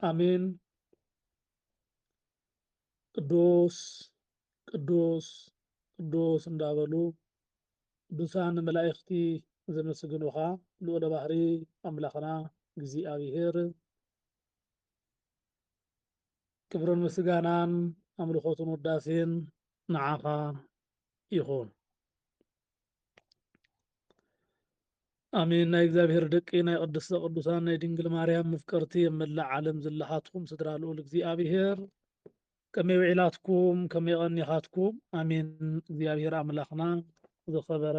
ኣሜን። ቅዱስ ቅዱስ ቅዱስ እንዳበሉ ቅዱሳን መላእኽቲ ዘመስግኑኻ ልዑለ ባህሪ ኣምላኽና እግዚኣብሔር ክብርን ምስጋናን ኣምልኾትን ውዳሴን ንዓኻ ይኹን። ኣሜን ናይ እግዚኣብሔር ደቂ ናይ ቅድስተ ቅዱሳን ናይ ድንግል ማርያም ምፍቀርቲ ኣብ መላእ ዓለም ዝለኻትኩም ስድራ ልኡል እግዚኣብሔር ከመይ ውዒላትኩም ከመይ ቀኒኻትኩም ኣሜን እግዚኣብሔር ኣምላኽና ዝኸበረ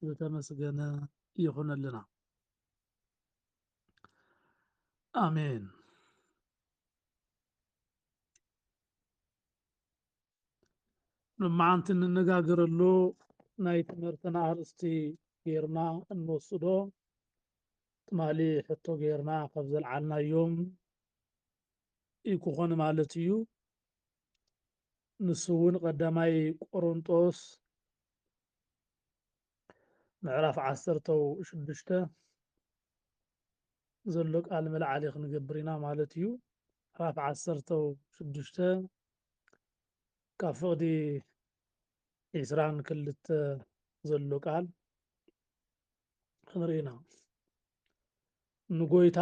ዝተመስገነ ይኹነልና ኣሜን ልመዓንቲ እንነጋገረሉ ናይ ትምህርትና ኣርእስቲ ጌርና እንወስዶ ትማሊ ሕቶ ጌርና ካብ ዘልዓልናዮም ይክኾን ማለት እዩ ንሱ እውን ቀዳማይ ቆሮንጦስ ምዕራፍ ዓሰርተው ሽዱሽተ ዘሎ ቃል መልዓሊ ክንገብር ኢና ማለት እዩ ምዕራፍ ዓሰርተው ሽዱሽተ ካብ ፍቕዲ ዕስራን ክልተ ዘሎ ቃል ክንርኢ ኢና። ንጎይታ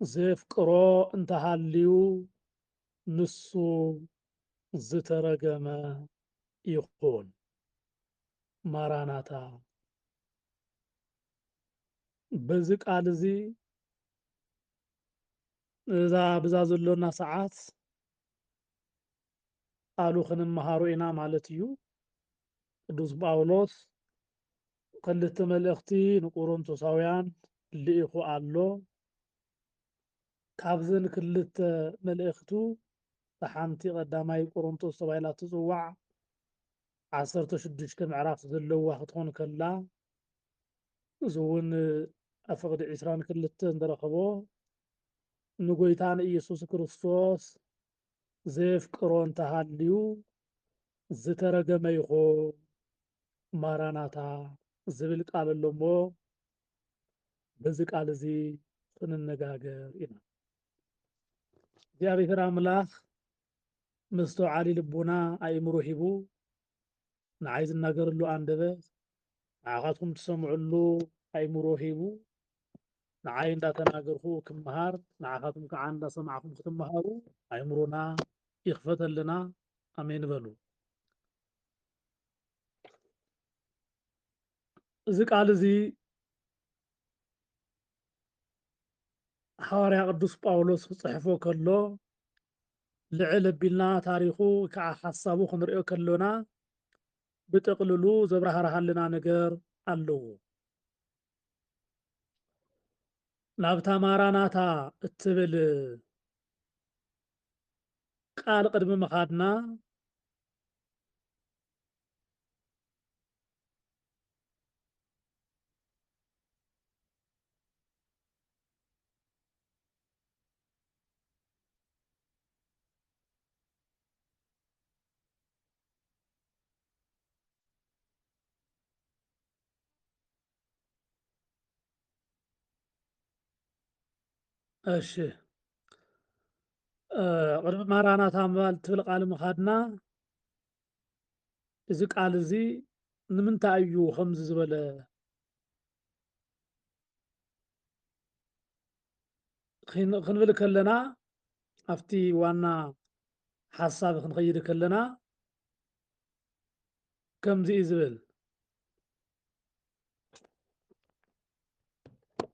ዘፍቅሮ እንተሃልዩ ንሱ ዝተረገመ ይኹን። ማራናታ በዚ ቃል እዚ እዛ ብዛ ዘሎና ሰዓት ቃሉ ክንመሃሮ ኢና ማለት እዩ። ቅዱስ ጳውሎስ ክልተ መልእኽቲ ንቁሮንቶሳውያን ልኢኹ ኣሎ። ካብዘን ክልተ መልእኽቱ እታ ሓንቲ ቀዳማይ ቆሮንቶስ ተባሂላ እትጽዋዕ ዓሰርተ ሽዱሽተ ምዕራፍ ዘለዋ ክትኾን ከላ እዚ እውን ኣብ ፍቕዲ ዕስራን ክልተን ዝረኸቦ ንጎይታ ንኢየሱስ ክርስቶስ ዘየፍቅሮ እንተሃልዩ ዝተረገመ ይኹን ማራናታ ዝብል ቃል ኣሎ እሞ በዚ ቃል እዚ ክንነጋገር ኢና። እግዚኣብሔር ኣምላኽ መስተውዓሊ ልቡና ኣእምሮ ሂቡ ንዓይ ዝናገረሉ ኣንደበት ንዓኻትኩም ትሰምዕሉ ኣይምሮ ሂቡ ንዓይ እንዳተናገርኩ ክመሃር ንዓኻትኩም ከዓ እንዳሰማዕኩም ክትመሃሩ ኣይምሮና ይኽፈተልና ኣሜን በሉ። እዚ ቃል እዚ ሓዋርያ ቅዱስ ጳውሎስ ክጽሕፎ ከሎ ልዕል ኣቢልና ታሪኹ ወይ ከዓ ሓሳቡ ክንሪኦ ከሎና ብጥቅልሉ ዘብራህርሃልና ነገር ኣለዎ። ናብታ ማራናታ እትብል ቃል ቅድሚ ምኻድና እሺ ቅድሚ ማራናታ ምባል ትብል ቃል ምኻድና እዚ ቃል እዚ ንምንታይ እዩ ከምዚ ዝበለ ክንብል ከለና ኣብቲ ዋና ሓሳብ ክንኸይድ ከለና ከምዚ እዩ ዝብል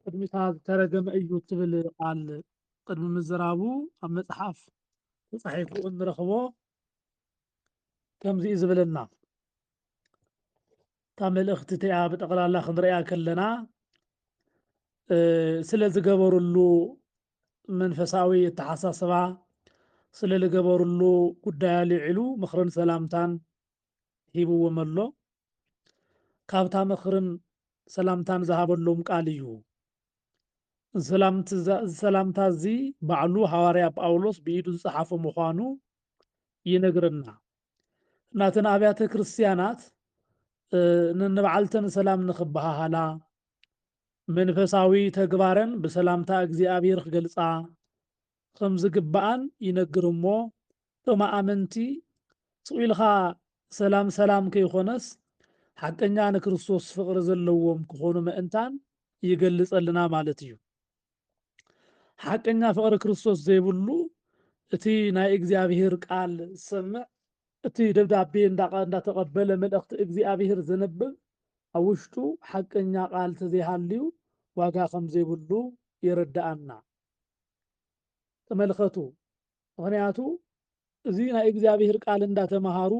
ቅድሚታ ዝተረገመ እዩ ትብል ቃል ቅድሚ ምዝራቡ ኣብ መፅሓፍ ተፃሒፉ እንረኽቦ ከምዚ እዩ ዝብለና እታ መልእኽቲ እቲኣ ብጠቕላላ ክንሪኣ ከለና ስለ ዝገበርሉ መንፈሳዊ ኣተሓሳስባ ስለ ዝገበርሉ ጉዳይ ኣልዒሉ ምኽርን ሰላምታን ሂብዎም ኣሎ ካብታ ምኽርን ሰላምታን ዝሃበሎም ቃል እዩ ሰላምታ እዚ ባዕሉ ሃዋርያ ጳውሎስ ብኢዱ ዝፀሓፎ ምዃኑ ይነግረና ናተን ኣብያተ ክርስትያናት ንበዓልተን ሰላም ንኽበሃሃላ መንፈሳዊ ተግባረን ብሰላምታ እግዚኣብሔር ክገልፃ ከም ዝግባኣን ይነግር እሞ እቶም ኣመንቲ ስቑኢልኻ ሰላም ሰላም ከይኾነስ ሓቀኛ ንክርስቶስ ፍቕሪ ዘለዎም ክኾኑ ምእንታን ይገልጸልና ማለት እዩ። ሓቀኛ ፍቕሪ ክርስቶስ ዘይብሉ እቲ ናይ እግዚኣብሔር ቃል ዝሰምዕ እቲ ደብዳቤ እንዳተቐበለ መልእኽቲ እግዚኣብሔር ዘንብብ ኣብ ውሽጡ ሓቀኛ ቃል ተዘይሃልዩ ዋጋ ከም ዘይብሉ የረድኣና። ተመልከቱ። ምክንያቱ እዚ ናይ እግዚኣብሔር ቃል እንዳተምሃሩ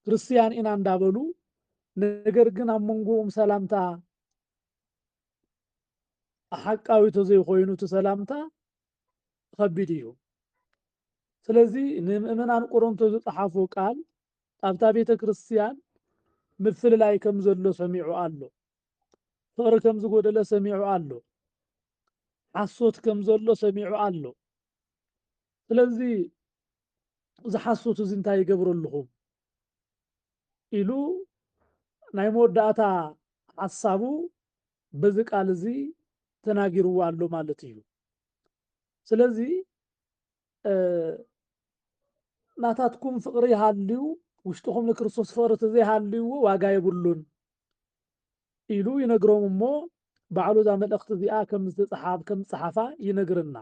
ክርስትያን ኢና እንዳበሉ ነገር ግን ኣብ መንጎኦም ሰላምታ ኣሓቃዊ ተዘይኮይኑ እቲ ሰላምታ ኸቢድ እዩ። ስለዚ ንምእመናን ቆሮንቶ ዝጸሓፎ ቃል ኣብታ ቤተ ክርስቲያን ምፍልላይ ከም ዘሎ ሰሚዑ ኣሎ። ፍቕሪ ከም ዝጎደለ ሰሚዑ ኣሎ። ሓሶት ከም ዘሎ ሰሚዑ ኣሎ። ስለዚ እዚ ሓሶት እዚ እንታይ ይገብረልኹም? ኢሉ ናይ መወዳእታ ሓሳቡ በዚ ቃል እዚ ተናጊርዎ ኣሎ ማለት እዩ። ስለዚ ናታትኩም ፍቕሪ ሃልዩ ውሽጥኹም ንክርስቶስ ፍቕሪ ተዘይሃልይዎ ዋጋ የብሉን ኢሉ ይነግሮም እሞ ባዕሉ እዛ መልእኽቲ እዚኣ ከም ዝተፅሓብ ከም ዝፀሓፋ ይነግርና።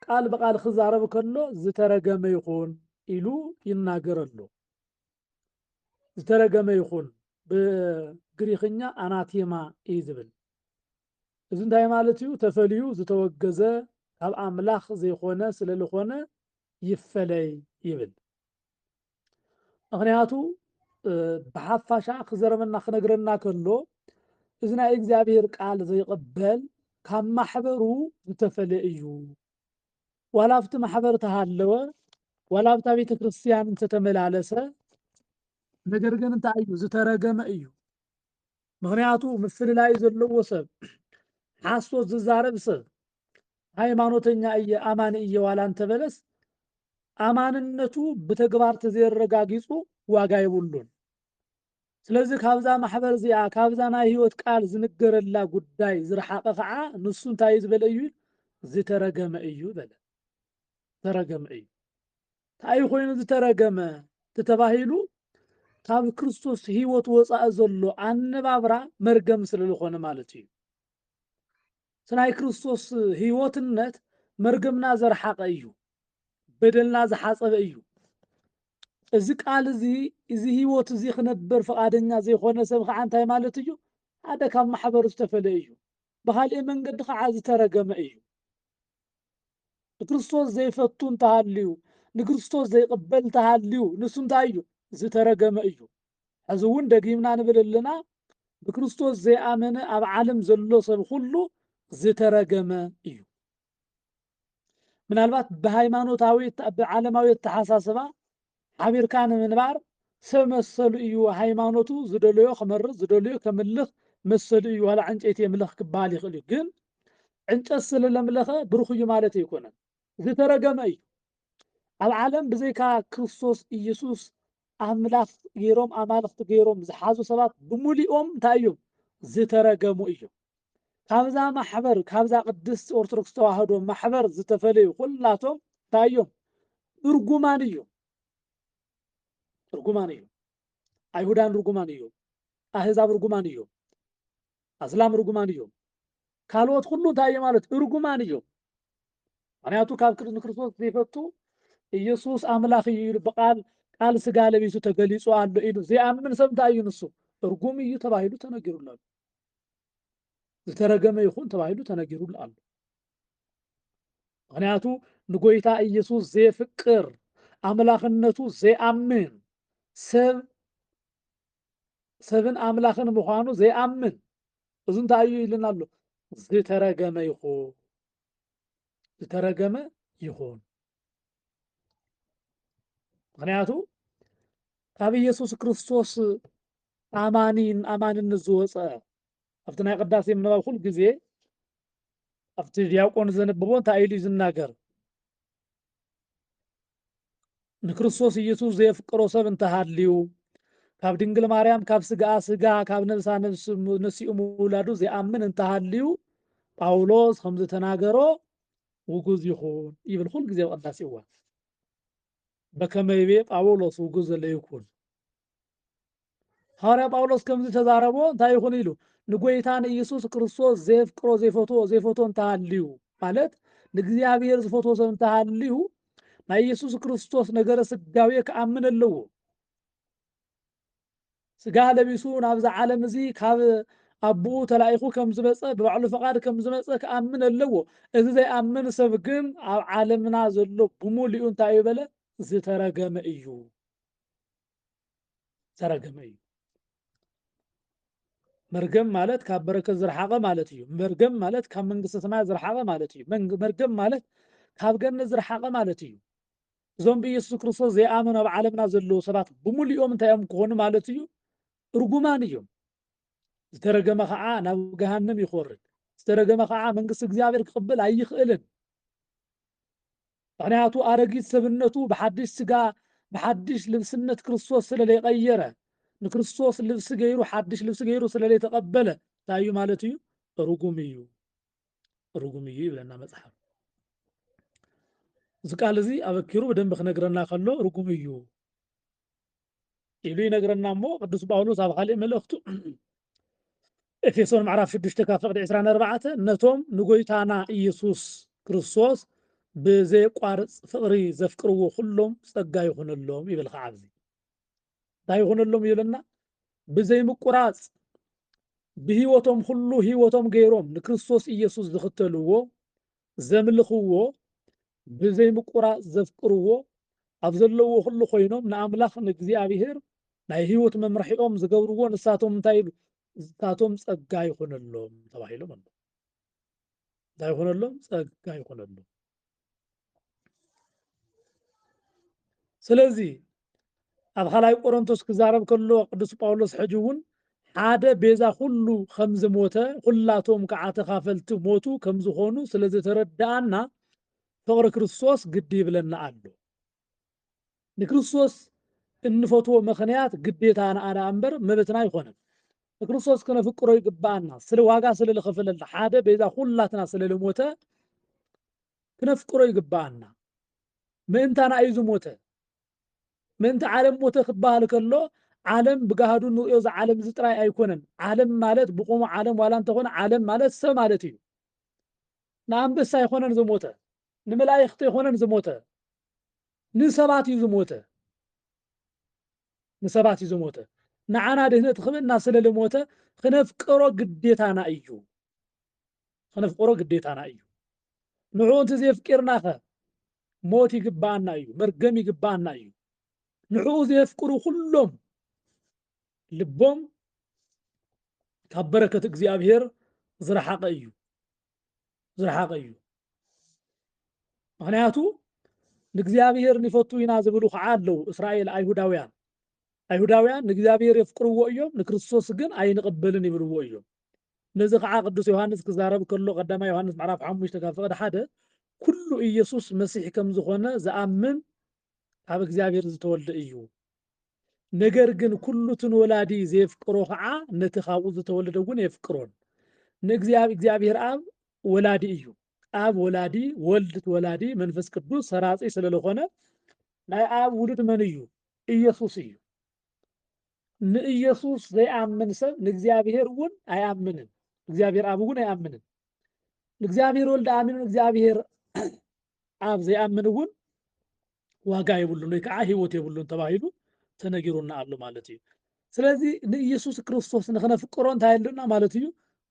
ቃል ብቃል ክዛረብ ከሎ ዝተረገመ ይኹን ኢሉ ይናገር ኣሎ። ዝተረገመ ይኹን ብግሪክኛ ኣናቴማ እዩ ዝብል። እዚ እንታይ ማለት እዩ? ተፈልዩ ዝተወገዘ ካብ ኣምላኽ ዘይኮነ ስለዝኾነ ይፈለይ ይብል። ምክንያቱ ብሓፋሻ ክዘረበና ክነግረና ከሎ እዚ ናይ እግዚኣብሔር ቃል ዘይቕበል ካብ ማሕበሩ ዝተፈለ እዩ ዋላ ኣብቲ ማሕበር ተሃለወ ዋላ ኣብታ ቤተ ክርስትያን እንተተመላለሰ ነገር ግን እንታይ እዩ ዝተረገመ እዩ ምኽንያቱ ምፍልላይ ዘለዎ ሰብ ሓሶት ዝዛረብ ሰብ ሃይማኖተኛ እየ ኣማኒ እየ ዋላ እንተበለስ ኣማንነቱ ብተግባር ተዘየረጋጊፁ ዋጋ የብሉን። ስለዚ ካብዛ ማሕበር እዚኣ ካብዛ ናይ ህይወት ቃል ዝንገረላ ጉዳይ ዝረሓቐ ከዓ ንሱ እንታይ ዝበለ እዩ ዝተረገመ እዩ በለ ተረገመ እዩ ታይ ኾይኑ ዝተረገመ ተተባሂሉ ካብ ክርስቶስ ህይወት ወፃኢ ዘሎ ኣነባብራ መርገም ስለዝኾነ ማለት እዩ። ስናይ ክርስቶስ ህይወትነት መርገምና ዘርሓቀ እዩ፣ በደልና ዝሓፀበ እዩ። እዚ ቃል እዚ እዚ ህይወት እዚ ክነበር ፈቃደኛ ዘይኮነ ሰብ ከዓ እንታይ ማለት እዩ? ሓደ ካብ ማሕበር ዝተፈለ እዩ፣ ብካልእ መንገዲ ከዓ ዝተረገመ እዩ። ንክርስቶስ ዘይፈቱ እንተሃልዩ ንክርስቶስ ዘይቕበል እንተሃልዩ ንሱ እንታይ እዩ ዝተረገመ እዩ ሕዚ እውን ደጊምና ንብል ኣለና ብክርስቶስ ዘይኣመነ ኣብ ዓለም ዘሎ ሰብ ኩሉ ዝተረገመ እዩ ምናልባት ብሃይማኖታዊ ብዓለማዊ ኣተሓሳስባ ሓቢርካ ንምንባር ሰብ መሰሉ እዩ ሃይማኖቱ ዝደለዮ ክመርጽ ዝደለዮ ከምልኽ መሰሉ እዩ ዋላ ዕንጨይቲ የምልኽ ክበሃል ይኽእል እዩ ግን ዕንጨት ስለ ለምለኸ ብሩኽ እዩ ማለት ኣይኮነን ዝተረገመ እዩ ኣብ ዓለም ብዘይካ ክርስቶስ ኢየሱስ ኣምላኽ ገይሮም ኣማልኽቲ ገይሮም ዝሓዙ ሰባት ብሙሊኦም እንታይ እዮም ዝተረገሙ እዮም ካብዛ ማሕበር ካብዛ ቅድስት ኦርቶዶክስ ተዋህዶ ማሕበር ዝተፈለዩ ኩላቶም እንታይ እዮም? እርጉማን እዮም። እርጉማን እዮም። ኣይሁዳን ርጉማን እዮም። ኣህዛብ ርጉማን እዮም። ኣስላም ርጉማን እዮም። ካልኦት ኩሉ እንታይ እዮም ማለት እርጉማን እዮም። ምክንያቱ ካብ ንክርስቶስ ዘይፈቱ ኢየሱስ ኣምላኽ እዩ ኢሉ ብቃል ቃል ስጋ ለቢሱ ተገሊጹ ኣሎ ኢሉ ዘይኣምን ሰብ እንታይ እዩ ንሱ እርጉም እዩ ተባሂሉ ተነጊሩሎ ኣሎ። ዝተረገመ ይኹን ተባሂሉ ተነጊሩሉ ኣሎ። ምክንያቱ ንጎይታ ኢየሱስ ዘየፍቅር ኣምላኽነቱ ዘይኣምን ሰብ ሰብን ኣምላኽን ምዃኑ ዘይኣምን እዚ እንታይ እዩ ኢልና ኣሎ ዝተረገመ ይኹን ዝተረገመ ይኹን ምክንያቱ ካብ ኢየሱስ ክርስቶስ ኣማኒን ኣማንነት ዝወፀ ኣብቲ ናይ ቅዳሴ ምንባብ ኩሉ ግዜ ኣብቲ ዲያቆን ዘንብቦ እንታይ ኢሉ እዩ ዝናገር ንክርስቶስ ኢየሱስ ዘየፍቅሮ ሰብ እንተሃልዩ ካብ ድንግል ማርያም ካብ ስጋኣ ስጋ ካብ ነብሳ ነብስ ነሲኡ ምውላዱ ዘይኣምን እንተሃልዩ ጳውሎስ ከም ዝተናገሮ ውጉዝ ይኹን ይብል ኩሉ ግዜ ኣብ ቅዳሴ እዋን በከመ ይቤ ጳውሎስ ውጉዝ ዘለ ይኩን ሃዋርያ ጳውሎስ ከምዚ ተዛረቦ እንታይ ይኹን ኢሉ ንጎይታ ንኢየሱስ ክርስቶስ ዘየፍቅሮ ዘይፈትዎ ዘይፈትዎ እንተሃልዩ ማለት ንእግዚኣብሔር ዝፈትዎ ሰብ እንተሃልዩ ናይ ኢየሱስ ክርስቶስ ነገረ ስጋዌ ክኣምን ኣለዎ ስጋ ለቢሱ ናብዛ ዓለም እዚ ካብ ኣቦኡ ተላኢኹ ከም ዝመጸ ብባዕሉ ፈቓድ ከም ዝመጸ ክኣምን ኣለዎ። እዚ ዘይኣምን ሰብ ግን ኣብ ዓለምና ዘሎ ብምሉኡ እንታይ እዩ በለ? ዝተረገመ እዩ። ዝተረገመ እዩ። መርገም ማለት ካብ በረከት ዝረሓቐ ማለት እዩ። መርገም ማለት ካብ መንግስተ ሰማያት ዝረሓቐ ማለት እዩ። መርገም ማለት ካብ ገነት ዝረሓቐ ማለት እዩ። እዞም ብኢየሱስ ክርስቶስ ዘይኣመኑ ኣብ ዓለምና ዘለዉ ሰባት ብምሉኦም እንታይ እዮም ክኾኑ ማለት እዩ? እርጉማን እዮም። ዝተረገመ ከዓ ናብ ገሃንም ይኾርድ። ዝተረገመ ከዓ መንግስቲ እግዚኣብሔር ክቕብል ኣይኽእልን። ምክንያቱ ኣረጊት ሰብነቱ ብሓድሽ ስጋ ብሓድሽ ልብስነት ክርስቶስ ስለ ዘይቀየረ ንክርስቶስ ልብሲ ገይሩ ሓድሽ ልብሲ ገይሩ ስለ ዘይተቀበለ እንታይ እዩ ማለት እዩ ርጉም እዩ ርጉም እዩ ይብለና መጽሓፍ እዚ ቃል እዚ ኣበኪሩ ብደንብ ክነግረና ከሎ ርጉም እዩ ኢሉ ይነግረና እሞ ቅዱስ ጳውሎስ ኣብ ካልእ መልእኽቱ ኤፌሶን ምዕራፍ 6 ካብ ፍቕዲ 24 ነቶም ንጎይታና ኢየሱስ ክርስቶስ ብዘየቋርፅ ፍቕሪ ዘፍቅርዎ ኩሎም ጸጋ ይኹነሎም ይብል ከዓ ኣብዚ እንታይ ይኹንሎም እዩ ኢለና ብዘይምቁራጽ ብህይወቶም ኩሉ ህይወቶም ገይሮም ንክርስቶስ ኢየሱስ ዝኽተልዎ ዘምልኽዎ ብዘይምቁራጽ ዘፍቅርዎ ኣብ ዘለዎ ኩሉ ኮይኖም ንኣምላኽ ንእግዚኣብሔር ናይ ህይወት መምርሒኦም ዝገብርዎ ንሳቶም እንታይ ኢሉ ንሳቶም ጸጋ ይኹነሎም ተባሂሎም ኣሎ እንታይ ይኹነሎም ጸጋ ይኹነሎም ስለዚ ኣብ ኻልኣይ ቆሮንቶስ ክዛረብ ከሎ ቅዱስ ጳውሎስ ሕጂ እውን ሓደ ቤዛ ኩሉ ከም ዝሞተ ኩላቶም ከዓ ተኻፈልቲ ሞቱ ከም ዝኾኑ ስለ ዝተረድኣና ፍቕሪ ክርስቶስ ግዲ ይብለና ኣሎ ንክርስቶስ እንፈትዎ ምኽንያት ግዴታና ደኣ እምበር መብትና ኣይኮነን። ንክርስቶስ ክነፍቅሮ ይግብኣና። ስለ ዋጋ ስለ ዝኸፈለልና ሓደ ቤዛ ኩላትና ስለ ዝሞተ ክነፍቅሮ ይግብኣና። ምእንታና እዩ ዝሞተ። ምእንቲ ዓለም ሞተ ክበሃል ከሎ ዓለም ብጋህዱ ንሪኦ እዚ ዓለም እዚ ጥራይ ኣይኮነን። ዓለም ማለት ብቆሙ ዓለም ዋላ እንተኾነ ዓለም ማለት ሰብ ማለት እዩ። ንኣንበሳ ኣይኮነን ዝሞተ ንመላኢክት ኣይኮነን ዝሞተ ንሰባት እዩ ዝሞተ ንሰባት እዩ ዝሞተ ንዓና ድህነት ክብእና ስለ ልሞተ ክነፍቅሮ ግዴታና እዩ ክነፍቅሮ ግዴታና እዩ ንዕኡ እንተ ዘየፍቂርናኸ ሞት ይግባኣና እዩ መርገም ይግባኣና እዩ ንዕኡ ዘየፍቅሩ ኩሎም ልቦም ካብ በረከት እግዚኣብሔር ዝረሓቐ እዩ ዝረሓቐ እዩ ምክንያቱ ንእግዚኣብሔር ንፈቱ ኢና ዝብሉ ከዓ ኣለዉ እስራኤል ኣይሁዳውያን ኣይሁዳውያን ንእግዚኣብሔር የፍቅርዎ እዮም ንክርስቶስ ግን ኣይንቕበልን ይብልዎ እዮም ነዚ ከዓ ቅዱስ ዮሃንስ ክዛረብ ከሎ ቀዳማ ዮሃንስ ምዕራፍ ሓሙሽተ ካብ ፍቕዲ ሓደ ኩሉ ኢየሱስ መሲሕ ከም ዝኾነ ዝኣምን ካብ እግዚኣብሔር ዝተወልደ እዩ ነገር ግን ኩሉ እቲ ንወላዲ ዜፍቅሮ ኸዓ ነቲ ኻብኡ ዝተወልደ እውን የፍቅሮን። ንእግዚኣብሔር እግዚኣብሔር ኣብ ወላዲ እዩ። ኣብ ወላዲ፣ ወልድ ትወላዲ፣ መንፈስ ቅዱስ ሰራጺ ስለ ለኾነ ናይ ኣብ ውሉድ መን እዩ? ኢየሱስ እዩ። ንኢየሱስ ዘይኣምን ሰብ ንእግዚኣብሔር እውን ኣይኣምንን። እግዚኣብሔር ኣብ እውን ኣይኣምንን። ንእግዚኣብሔር ወልድ ኣሚኑ ንእግዚኣብሔር ኣብ ዘይኣምን እውን ዋጋ የብሉን ወይ ከዓ ህይወት የብሉን ተባሂሉ ተነጊሩና ኣሎ ማለት እዩ። ስለዚ ንኢየሱስ ክርስቶስ ንክነፍቅሮ እንታይ ኣሎና ማለት እዩ?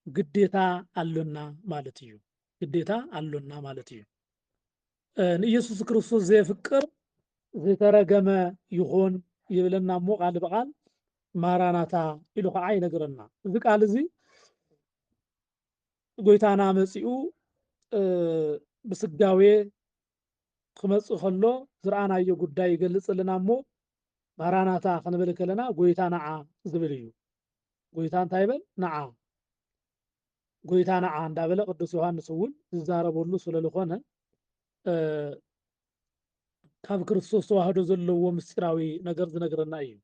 ግዴታ ኣሎና ማለት እዩ። ግዴታ ኣሎና ማለት እዩ። ንኢየሱስ ክርስቶስ ዘየፍቅር ዝተረገመ ይኹን ይብለና እሞ ቃል ብቃል ማራናታ ኢሉ ከዓ ይነግረና። እዚ ቃል እዚ ጎይታና መጺኡ እ፣ ብስጋዌ ክመጽእ ከሎ ዝረኣናዮ ጉዳይ ይገልጽልና እሞ ማራናታ ክንብል ከለና ጎይታ ነዓ ዝብል እዩ። ጎይታ እንታይ በል ነዓ ጎይታ ነዓ እንዳበለ ቅዱስ ዮሐንስ እውን ዝዛረበሉ ስለዝኾነ እ፣ ካብ ክርስቶስ ተዋህዶ ዘለዎ ምስጢራዊ ነገር ዝነግረና እዩ።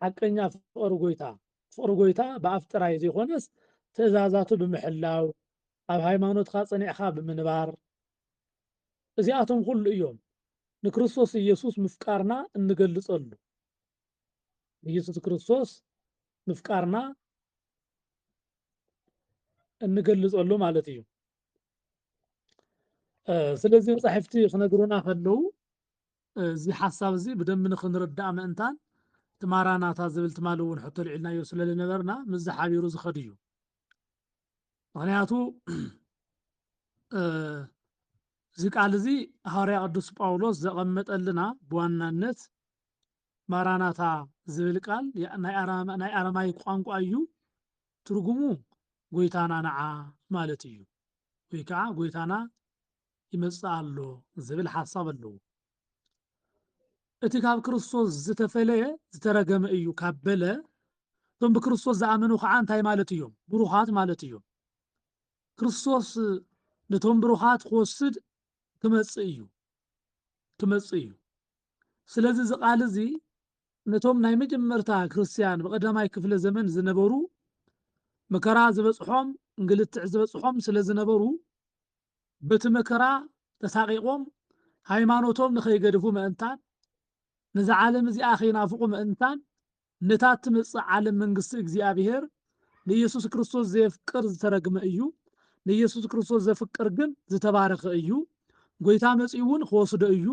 ሓቀኛ ፍቕሪ ጎይታ፣ ፍቕሪ ጎይታ ብኣፍ ጥራይ ዘይኮነስ ትእዛዛቱ ብምሕላው፣ ኣብ ሃይማኖትካ ጸኒዕካ ብምንባር፣ እዚኣቶም ኩሉ እዮም ንክርስቶስ ኢየሱስ ምፍቃርና እንገልጸሉ። ንኢየሱስ ክርስቶስ ምፍቃርና እንገልጸሉ ማለት እዩ። ስለዚ መጻሕፍቲ ክነግሩና ከለዉ እዚ ሓሳብ እዚ ብደንቢ ንኽንርዳእ ምእንታን፣ እቲ ማራናታ ዝብል ትማሊ እውን ሕቶ ኣልዒልናዮ ስለ ዝነበርና ምስዚ ሓቢሩ ዝኸድ እዩ። ምኽንያቱ እዚ ቃል እዚ ሃዋርያ ቅዱስ ጳውሎስ ዘቐመጠልና ብዋናነት ማራናታ ዝብል ቃል ናይ ኣረማይክ ቋንቋ እዩ። ትርጉሙ ጎይታና ንዓ ማለት እዩ ወይ ከዓ ጎይታና ይመጽእ ኣሎ ዝብል ሓሳብ ኣለዎ። እቲ ካብ ክርስቶስ ዝተፈለየ ዝተረገመ እዩ ካብ በለ እቶም ብክርስቶስ ዝኣመኑ ከዓ እንታይ ማለት እዮም? ብሩኻት ማለት እዮም። ክርስቶስ ነቶም ብሩኻት ክወስድ ክመጽእ እዩ ክመጽእ እዩ። ስለዚ እዚ ቃል እዚ ነቶም ናይ መጀመርታ ክርስትያን ብቀዳማይ ክፍለ ዘመን ዝነበሩ መከራ ዝበጽሖም እንግልትዕ ዝበጽሖም ስለ ዝነበሩ በቲ መከራ ተሳቒቖም ሃይማኖቶም ንኸይገድፉ ምእንታን ነዛ ዓለም እዚኣ ኸይናፍቑ ምእንታን ነታ እትመጽእ ዓለም መንግስቲ እግዚኣብሄር ንኢየሱስ ክርስቶስ ዘየፍቅር ዝተረግመ እዩ ንኢየሱስ ክርስቶስ ዘፍቅር ግን ዝተባረኸ እዩ ጐይታ መጺኡ እውን ክወስዶ እዩ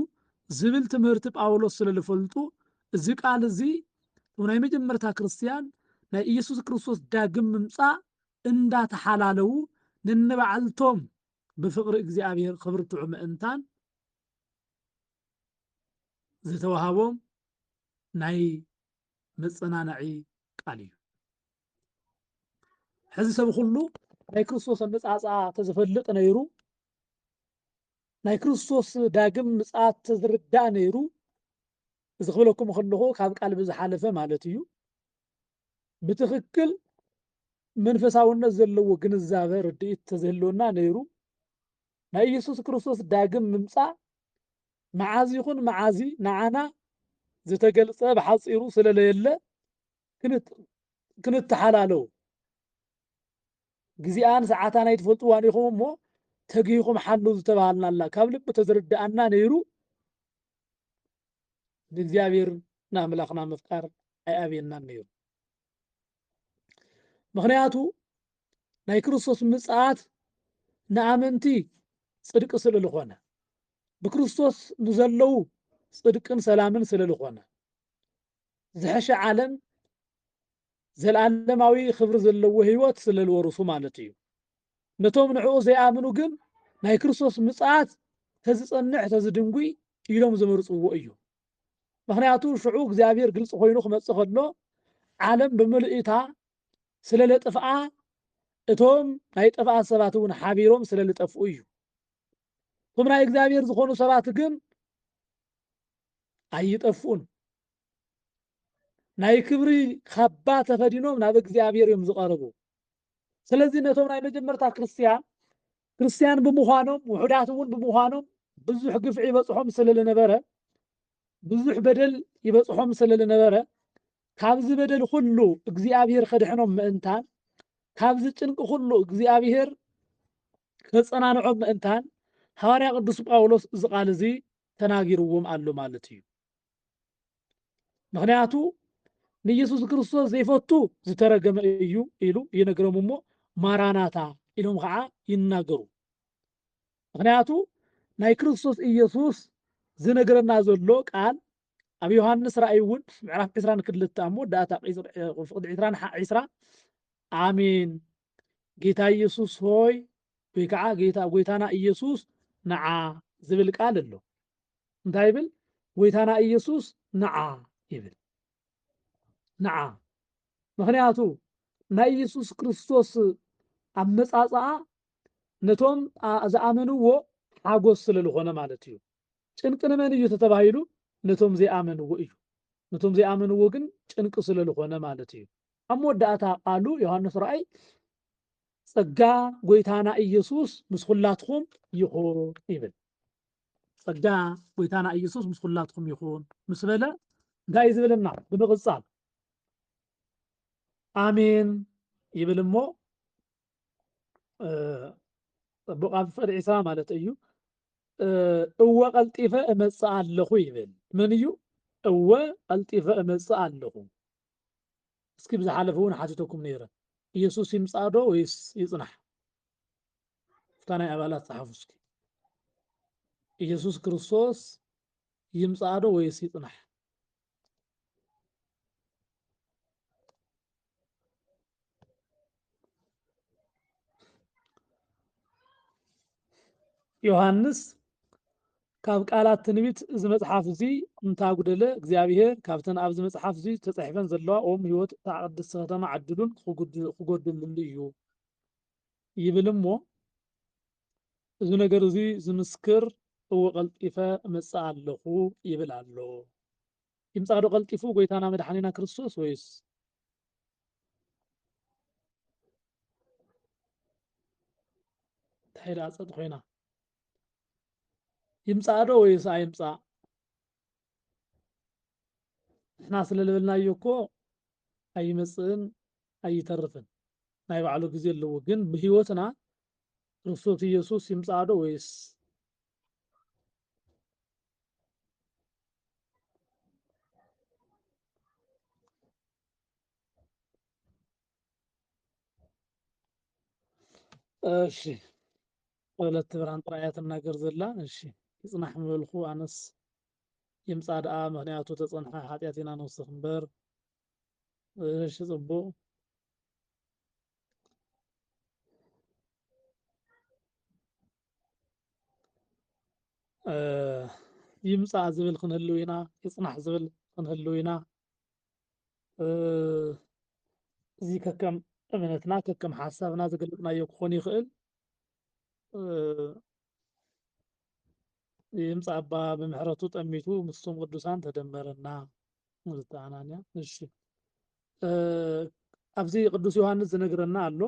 ዝብል ትምህርቲ ጳውሎስ ስለ ዝፈልጡ እዚ ቃል እዚ ናይ መጀመርታ ክርስትያን ናይ ኢየሱስ ክርስቶስ ዳግም ምምጻእ እንዳተሓላለዉ ነንባዕልቶም ብፍቕሪ እግዚኣብሔር ክብርትዑ ምእንታን ዝተወሃቦም ናይ መጸናናዒ ቃል እዩ። ሕዚ ሰብ ኩሉ ናይ ክርስቶስ ኣመጻጽኣ ተዝፈልጥ ነይሩ ናይ ክርስቶስ ዳግም ምጽኣት ተዝርዳእ ነይሩ እዚ ክብለኩም ከለኹ ካብ ቃል ብዝሓለፈ ማለት እዩ ብትኽክል መንፈሳውነት ዘለዎ ግንዛበ ርድኢት ተዝህልወና ነይሩ ናይ ኢየሱስ ክርስቶስ ዳግም ምምጻእ መዓዝ ይኹን መዓዚ ንዓና ዝተገልጸ ብሓጺሩ ስለለየለ ክንተሓላለው ግዜኣን ሰዓታን ኣይትፈልጥዋን ኢኹም እሞ ተጊህኹም ሓሉ ዝተባሃልናላ ካብ ልቢ ተዝርድኣና ነይሩ ንእግዚኣብሔር ንኣምላኽና ምፍቃር ኣይኣብየናን ነይሩ። ምኽንያቱ ናይ ክርስቶስ ምጽኣት ንኣመንቲ ጽድቂ ስለ ዝኾነ ብክርስቶስ ንዘለዉ ጽድቅን ሰላምን ስለ ዝኾነ ዝሐሸ ዓለም ዘለዓለማዊ ክብሪ ዘለዎ ህይወት ስለ ዝወርሱ ማለት እዩ። ነቶም ንዕኡ ዘይኣምኑ ግን ናይ ክርስቶስ ምጽኣት ተዝጸንሕ ተዝድንጒ ኢሎም ዝመርጽዎ እዩ። ምክንያቱ ሽዑ እግዚኣብሔር ግልጽ ኮይኑ ክመጽእ ከሎ ዓለም ብምልእታ ስለ ለጥፍኣ እቶም ናይ ጥፍኣት ሰባት እውን ሓቢሮም ስለ ልጠፍኡ እዩ። እቶም ናይ እግዚኣብሔር ዝኾኑ ሰባት ግን ኣይጠፍኡን። ናይ ክብሪ ካባ ተኸዲኖም ናብ እግዚኣብሔር እዮም ዝቐርቡ ስለዚህ ነቶም ናይ መጀመርታ ክርስትያን ክርስትያን ብምዃኖም ውሑዳት እውን ብምዃኖም ብዙሕ ግፍዒ ይበፅሖም ስለ ዝነበረ ብዙሕ በደል ይበፅሖም ስለ ዝነበረ ካብዚ በደል ኩሉ እግዚኣብሔር ከድሕኖም ምእንታን ካብዚ ጭንቂ ኩሉ እግዚኣብሔር ከፀናንዖም ምእንታን ሃዋርያ ቅዱስ ጳውሎስ እዚ ቃል እዚ ተናጊርዎም ኣሎ ማለት እዩ ምክንያቱ ንኢየሱስ ክርስቶስ ዘይፈቱ ዝተረገመ እዩ ኢሉ ይነግሮም እሞ ማራናታ ኢሎም ከዓ ይናገሩ ምክንያቱ ናይ ክርስቶስ ኢየሱስ ዝነግረና ዘሎ ቃል ኣብ ዮሃንስ ራእይ እውን ምዕራፍ 20 ክልተ ኣብ መወዳእታ ፍቅዲ 20 ሓ 20 ኣሜን ጌታ ኢየሱስ ሆይ ወይ ከዓ ጌታ ጎይታና ኢየሱስ ንዓ ዝብል ቃል ኣሎ እንታይ ይብል ጎይታና ኢየሱስ ንዓ ይብል ንዓ ምክንያቱ ናይ ኢየሱስ ክርስቶስ ኣመጻጽኣ ነቶም ዝኣመንዎ ሓጎስ ስለ ዝኾነ ማለት እዩ ጭንቂ ንመን እዩ ተተባሂሉ ነቶም ዘይኣመንዎ እዩ ነቶም ዘይኣመንዎ ግን ጭንቂ ስለ ዝኾነ ማለት እዩ ኣብ መወዳእታ ቃሉ ዮሃንስ ራእይ ጸጋ ጎይታና ኢየሱስ ምስ ኹላትኹም ይኹን ይብል ጸጋ ጎይታና ኢየሱስ ምስ ኹላትኩም ይኹን ምስ በለ እንታይ እዩ ዝብልና ብምቕጻል ኣሜን ይብል እሞ ጽቡቕ ኣብ ፍቕሪ ዒሳ ማለት እዩ እወ ቀልጢፈ እመጽእ ኣለኹ ይብል መን እዩ እወ ቀልጢፈ እመጽእ ኣለኹ እስኪ ብዝሓለፈ እውን ሓቲተኩም ነይረ ኢየሱስ ይምጻእ ዶ ወይስ ይጽናሕ እፍታ ናይ ኣባላት ጸሓፉ እስኪ። ኢየሱስ ክርስቶስ ይምጻእ ዶ ወይስ ይጽናሕ? ዮሃንስ ካብ ቃላት ትንቢት እዚ መጽሓፍ እዚ እንታጉደለ እግዚኣብሔር ካብተን ኣብዚ መጽሓፍ እዚ ተጻሒፈን ዘለዋ ኦም ህይወት እታ ቅድስቲ ከተማ ዓድሉን ክጎድልሉ እዩ ይብል እሞ እዚ ነገር እዚ ዝምስክር እወ ቀልጢፈ እመጽእ ኣለኹ ይብል ኣሎ። ይምጻእዶ ቀልጢፉ ጎይታና መድሓኒና ክርስቶስ ወይስ እንታይ ደኣ ጸጥ ኮይና ይምጻእዶ ወይስ ኣይምጻእ ንሕና ስለ ልበልናዮ እኮ ኣይመጽእን ኣይተርፍን ናይ ባዕሉ ግዜ ኣለዎ ግን ብህይወትና ክርስቶስ ኢየሱስ ይምጽኣ ዶ ወይስ እሺ ወለተ ብርሃን ጥራይ እያ ትናገር ዘላ እሺ ይጽናሕ ምበልኩ ኣነስ ይምጻ ደኣ ምክንያቱ ተጸንሐ ሓጥያት ኢና ንውስክ እምበር እሺ ጽቡቅ ይምጻእ ዝብል ክንህልው ኢና ይጽናሕ ዝብል ክንህልው ኢና እዚ ከከም እምነትና ከከም ሓሳብና ዝገለጽናዮ ክኾን ይኽእል ይምፅ ኣባ ብምሕረቱ ጠሚቱ ምስቶም ቅዱሳን ተደመረና ንዝተ ኣናንያ እሺ ኣብዚ ቅዱስ ዮሃንስ ዝነግረና ኣሎ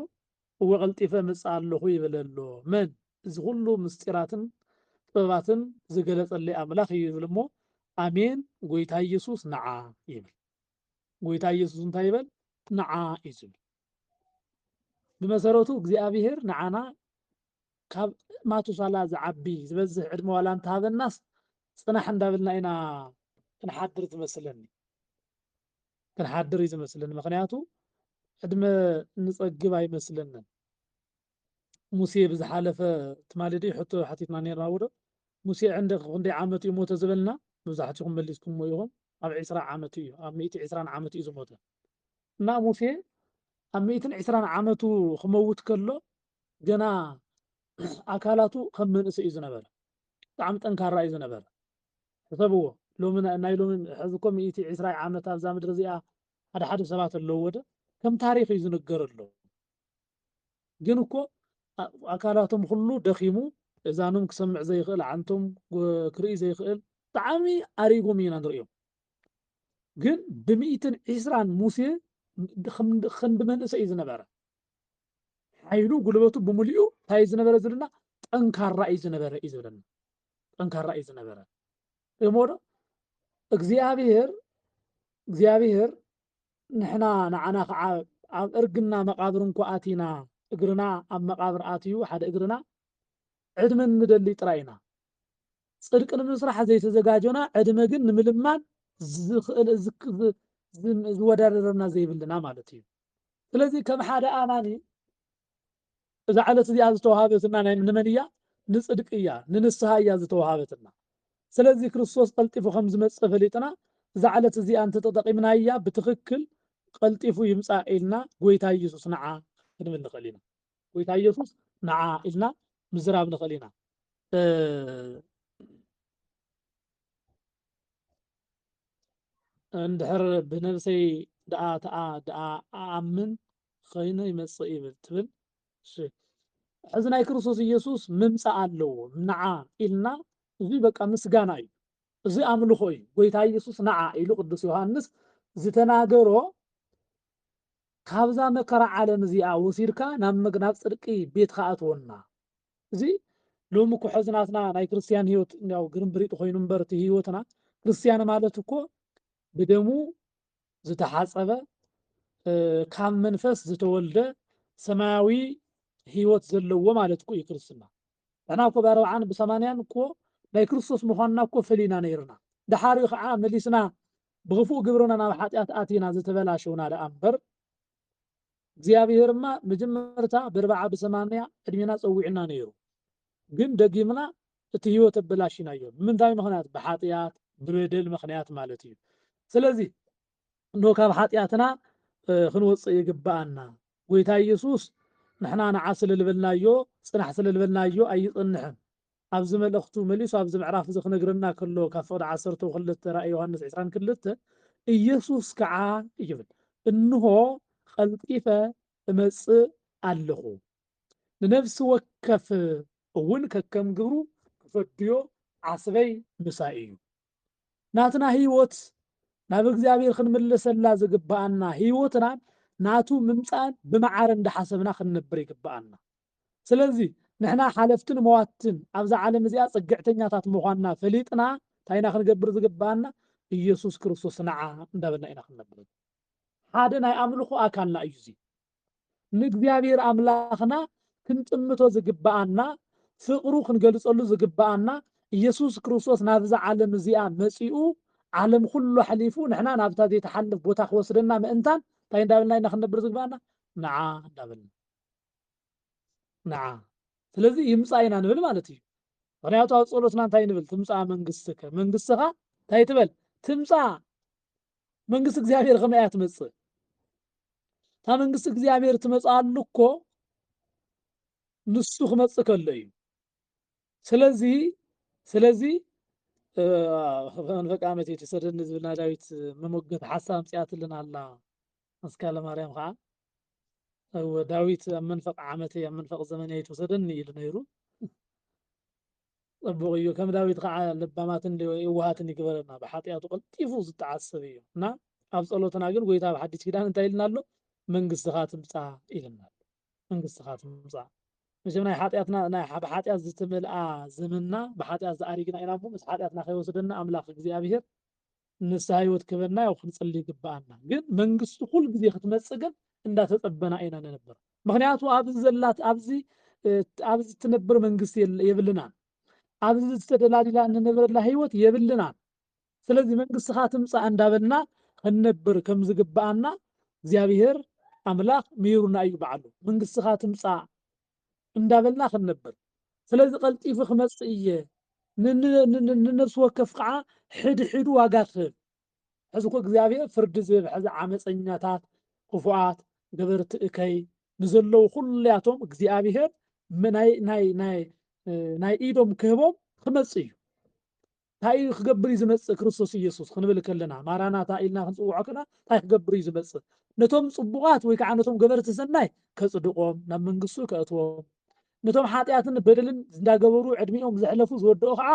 እወ ቀልጢፈ ምፅእ ኣለኹ ይብል ኣሎ መን እዚ ኩሉ ምስጢራትን ጥበባትን ዝገለፀለይ ኣምላኽ እዩ ይብል እሞ ኣሜን ጎይታ ኢየሱስ ንዓ ይብል ጎይታ ኢየሱስ እንታይ ይበል ንዓ እዩ ዝብል ብመሰረቱ እግዚኣብሄር ንዓና ካብ ማቱሳላ ዝዓቢ ዝበዝሕ ዕድመ ዋላ እንተሃበናስ ፅናሕ እንዳበልና ኢና ክንሓድር ዝመስለኒ ክንሓድር እዩ ዝመስለኒ ምክንያቱ ዕድመ እንፀግብ ኣይመስለንን ሙሴ ብዝሓለፈ ትማሊ ድዩ ሕቶ ሓቲትና ኔርና ዉዶ ሙሴ ዕንደክ ክንደይ ዓመቱ እዩ ሞተ ዝበልና መብዛሕቲኩም መሊስኩሞ ኢኩም ኣብ ዕስራ ዓመቱ እዩ ኣብ ሚእቲ ዕስራን ዓመቱ እዩ ዝሞተ እና ሙሴ ኣብ ሚእትን ዕስራን ዓመቱ ክመውት ከሎ ገና ኣካላቱ ከም መንእሰይ እዩ ዝነበረ ብጣዕሚ ጠንካራ እዩ ዝነበረ ሕሰብዎ ሎሚ ናይ ሎሚ ሕዚ እኮ ሚእቲ ዕስራ ዓመት ኣብዛ ምድሪ እዚኣ ሓደ ሓደ ሰባት ኣለዎ ዶ ከም ታሪክ እዩ ዝንገረሎም ግን እኮ ኣካላቶም ኹሉ ደኺሙ እዛኖም ክሰምዕ ዘይኽእል ኣዓንቶም ክርኢ ዘይኽእል ብጣዕሚ ኣሪጎም ኢና ንርእዮም ግን ብሚእትን ዒስራን ሙሴ ክንዲ መንእሰይ እዩ ዝነበረ ሓይሉ ጉልበቱ ብምልኡ እንታይ እዩ ዝነበረ ዝብልና ጠንካራ እዩ ዝነበረ እዩ ዝብለና ጠንካራ እዩ ዝነበረ እሞ ዶ እግዚኣብሔር እግዚኣብሔር ንሕና ንዓና ከዓ ኣብ እርግና መቃብር እንኮ ኣቲና እግርና ኣብ መቃብር ኣትዩ ሓደ እግርና ዕድመ ንደሊ ጥራይ ኢና ጽድቂ ንምስራሕ ዘይተዘጋጆና ዕድመ ግን ንምልማን ዝኽእል ዝወዳደረና ዘይብልና ማለት እዩ ስለዚ ከም ሓደ ኣማኒ እዛ ዕለት እዚኣ ዝተዋሃበትና ናይ ንመን እያ? ንጽድቂ እያ፣ ንንስሃ እያ ዝተዋሃበትና። ስለዚ ክርስቶስ ቀልጢፉ ከም ዝመጽእ ፈሊጥና እዛ ዕለት እዚኣ እንተ ተጠቂምናያ ብትኽክል ቀልጢፉ ይምጻእ ኢልና ጎይታ ኢየሱስ ንዓ ክንብል ንኽእል ኢና። ጎይታ ኢየሱስ ንዓ ኢልና ምዝራብ ንኽእል ኢና። እንድሕር ብነብሰይ ደኣ ተኣ ደኣ ኣኣምን ኸይኑ ይመጽእ ይብል ትብል እሺ ሕዚ ናይ ክርስቶስ ኢየሱስ ምምጻእ ኣለዎ ንዓ ኢልና እዚ በቃ ምስጋና እዩ እዚ ኣምልኾ እዩ ጎይታ ኢየሱስ ንዓ ኢሉ ቅዱስ ዮሐንስ ዝተናገሮ ካብዛ መከራ ዓለም እዚኣ ወሲድካ ናብ መግናብ ጽድቂ ቤትካ ኣትወና እዚ ሎሚ እኮ ሕዚ ናትና ናይ ክርስትያን ህይወት እንዲያው ግርምብሪጥ ኮይኑ እምበር እቲ ህይወትና ክርስትያን ማለት እኮ ብደሙ ዝተሓጸበ ካብ መንፈስ ዝተወልደ ሰማያዊ ህይወት ዘለዎ ማለት እኮ እዩ ክርስትና ንሕና እኮ ብኣርብዓን ብሰማንያን እኮ ናይ ክርስቶስ ምዃንና እኮ ፈሊና ነይርና ደሓሪ ከዓ መሊስና ብክፉእ ግብርና ናብ ሓጢኣት ኣቲና ዝተበላሸውና ደኣ እምበር እግዚኣብሔርማ መጀመርታ ብርብዓ ብሰማንያ ዕድሜና ፀዊዕና ነይሩ ግን ደጊምና እቲ ህይወት ኣበላሺናዮ ብምንታይ ምኽንያት ብሓጥያት ብበደል ምኽንያት ማለት እዩ ስለዚ እነሆ ካብ ሓጥያትና ክንወጽእ ይግብኣና ጎይታ ኢየሱስ ንሕና ንዓ ስለ ልበልናዮ ጽናሕ ስለ ልበልናዮ ኣይጽንሕን ኣብዚ መልእኽቱ መሊሱ ኣብዚ ምዕራፍ እዚ ክነግረና ከሎ ካብ ፍቕዲ ዓሰርተው ክልተ ራእይ ዮሃንስ ዕስራን ክልተ ኢየሱስ ከዓ ይብል እንሆ ቐልጢፈ እመጽእ ኣለኹ ንነፍሲ ወከፍ እውን ከከም ግብሩ ክፈድዮ ዓስበይ ምሳይ እዩ። ናትና ሕይወት ናብ እግዚኣብሔር ክንምለሰላ ዝግብኣና ሕይወትና ናቱ ምምጻእን ብመዓረ እንዳሓሰብና ክንነብር ይግብኣና። ስለዚ ንሕና ሓለፍትን መዋትትን ኣብዛ ዓለም እዚኣ ጽግዕተኛታት ምዃንና ፈሊጥና እንታይ ኢና ክንገብር ዝግብኣና ኢየሱስ ክርስቶስ ንዓ እንዳበልና ኢና ክንነብር ሓደ ናይ ኣምልኾ ኣካልና እዩ እዚ ንእግዚኣብሔር ኣምላኽና ክንጥምቶ ዝግብኣና ፍቕሩ ክንገልጸሉ ዝግብኣና ኢየሱስ ክርስቶስ ናብዛ ዓለም እዚኣ መጺኡ ዓለም ኩሉ ኣሕሊፉ ንሕና ናብታ ዘይተሓልፍ ቦታ ክወስደና ምእንታን እንታይ እንዳበልና ኢና ክንነብር ዝግባና ንዓ እንዳበልና ንዓ ስለዚ ይምፃእ ኢና ንብል ማለት እዩ ምክንያቱ ኣብ ፀሎትና እንታይ ንብል ትምፃእ መንግስትከ መንግስትኻ እንታይ ትበል ትምፃእ መንግስቲ እግዚኣብሔር ከመይ እያ ትመጽእ እታ መንግስቲ እግዚኣብሔር ትመጽኣሉ እኮ ንሱ ክመጽእ ከሎ እዩ ስለዚ ስለዚ መንፈቅ ዓመት የተሰደኒ ዝብል ናይ ዳዊት መሞገት ሓሳብ ኣምፅኣትልን ኣላ መስካለ ማርያም ከዓ እወ ዳዊት ኣብ መንፈቅ ዓመት ኣብ መንፈቅ ዘመን እያ የተወሰደኒ ኢሉ ነይሩ ጽቡቕ እዩ ከም ዳዊት ኸኣ ለባማትን የዋሃትን ይግበረና ብሓጥያቱ ቀልጢፉ ዝጠዓስ ሰብ እዩ እና ኣብ ጸሎትና ግን ጎይታ ኣብ ሓዲስ ኪዳን እንታይ ኢልና ኣሎ መንግስትኻ ትምጻእ ኢልና ኣሎ መንግስትኻ ትምጻእ መቸም ናይ ሓጢኣትና ናይ ብሓጢኣት ዝተመልኣ ዘመንና ብሓጢኣት ዝኣሪግና ኢና እሞ ምስ ሓጢኣትና ከይወስደና ኣምላኽ እግዚኣብሄር ንስሃ ህይወት ክህበና ያው ክንጽሊ ይግብኣና ግን መንግስቱ ኩሉ ግዜ ክትመጽእ ግን እንዳተጸበና ኢና ንነብር ምክንያቱ ኣብዚ ዘላት ኣብዚ ኣብዚ ትነብር መንግስቲ የብልናን ኣብዚ ዝተደላዲላ እንነብረላ ህይወት የብልናን ስለዚ መንግስትኻ ትምጻእ እንዳበልና ክንነብር ከም ዝግብኣና እግዚኣብሔር ኣምላኽ ምሂሩና እዩ በዓሉ መንግስትኻ ትምጻእ እንዳበልና ክንነብር ስለዚ ቀልጢፉ ክመጽእ እየ ንነብሲ ወከፍ ከኣ ሕድሕዱ ዋጋ ክህብ ሕዚ እኮ እግዚኣብሔር ፍርዲ ዝህብ ሕዚ ዓመፀኛታት ክፉኣት ገበርቲ እከይ ንዘለዉ ኩሉያቶም እግዚኣብሔር ናይ ናይ ናይ ናይ ኢዶም ክህቦም ክመጽእ እዩ እንታይ እዩ ክገብር እዩ ዝመጽእ ክርስቶስ ኢየሱስ ክንብል ከለና ማራናታ ኢልና ክንጽውዖ ከና እንታይ ክገብር እዩ ዝመጽእ ነቶም ጽቡቓት ወይ ከዓ ነቶም ገበርቲ ሰናይ ከጽድቖም ናብ መንግስቱ ከእትዎም ነቶም ሓጢኣትን በደልን እንዳገበሩ ዕድሚኦም ዘሕለፉ ዝወደኦ ከዓ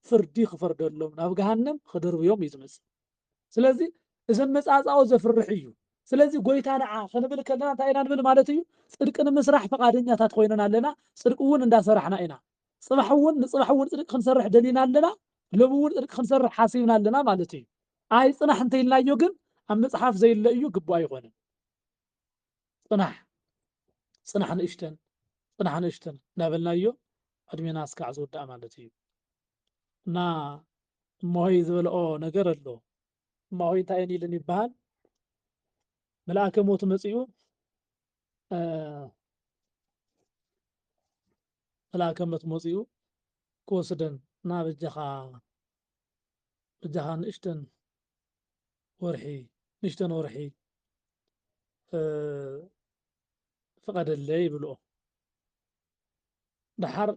ፍርዲ ክፈርደሎም ናብ ገሃንም ክድርብዮም እዩ ዝመጽእ ስለዚ እዚ ኣመጻጽኣኡ ዘፍርሕ እዩ ስለዚ ጎይታ ንዓ ክንብል ከለና እንታይ ኢና ንብል ማለት እዩ ጽድቂ ንምስራሕ ፈቓደኛታት ኮይነና ኣለና ጽድቂ እውን እንዳሰራሕና ኢና ጽባሕ እውን ንጽባሕ እውን ጽድቂ ክንሰርሕ ደሊና ኣለና፣ ሎሚ እውን ጽድቂ ክንሰርሕ ሓሲብና ኣለና ማለት እዩ። ኣይጽናሕ እንተኢልናዮ ግን ኣብ መጽሓፍ ዘይለ እዩ ግቡእ ኣይኾንን። ጽናሕ ጽናሕ ንእሽተን ጽናሕ ንእሽተን እናበልናዮ ዕድሜና እስካዕ ዝውዳእ ማለት እዩ እና እማሆይ ዝበልኦ ነገር ኣሎ እማሆይ እንታይ እየን ኢልን ይበሃል መልኣከ ሞት መፂኡ ክላከመት መጺኡ ክወስደን ና በጃኻ በጃኻ ንእሽተን ወርሒ ንእሽተን ወርሒ ፍቐደለይ ይብልኦ ደሓር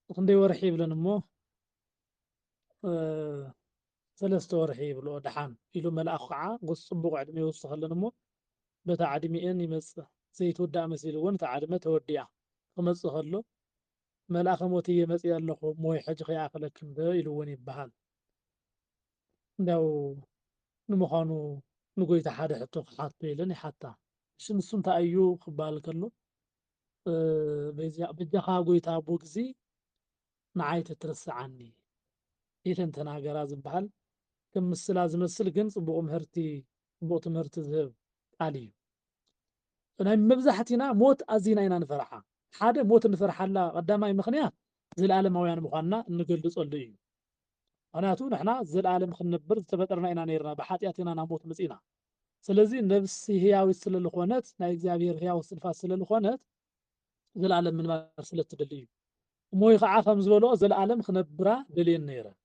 ክንደይ ወርሒ ይብለን እሞ ሰለስተ ወርሒ ይብልኦ ደሓን ኢሉ መልኣኩ ከዓ ጎስ ፅቡቅ ዕድመ ይውስከለን እሞ በታ ዕድሚኤን ይመፅእ ዘይትውዳእ መሲልወን እታ ዕድመ ተወዲኣ ክመፅእ ከሎ መልኣከ ሞት እየ መፂኤ ኣለኩ እሞ ወይ ሕጂ ከይኣክለክን ዶ ኢልወን ይበሃል እንዲያው ንምኳኑ ንጎይታ ሓደ ሕቶ ክሓቶ ኢለን ይሓታ እሺ ንሱ እንታይ እዩ ክበሃል ከሎ በጃካ ጎይታ ኣቦ ግዚ ንዓይ ተትርስዓኒ ኢለን ተናገራ ዝብሃል ከም ምስላ ዝመስል ግን ጽቡቕ ምህርቲ ጽቡቕ ትምህርቲ ዝህብ ቃል እዩ። ናይ መብዛሕቲና ሞት ኣዚና ኢና ንፈርሓ። ሓደ ሞት እንፈርሓላ ቀዳማይ ምኽንያት ዘልኣለማውያን ምዃንና እንገልጸሉ እዩ። ምኽንያቱ ንሕና ዘልኣለም ክንነብር ዝተፈጠርና ኢና ነይርና ብሓጢኣት ኢና ናብ ሞት መጺእና። ስለዚ ነብሲ ህያዊት ስለልኾነት ናይ እግዚኣብሔር ህያው እስትንፋስ ስለልኾነት፣ ዘለኣለም ምንባር ስለ እትደሊ እዩ። እሞይ ኸዓ ከም ዝበልኦ ዘለኣለም ኽነብራ ደልየን ነይረን።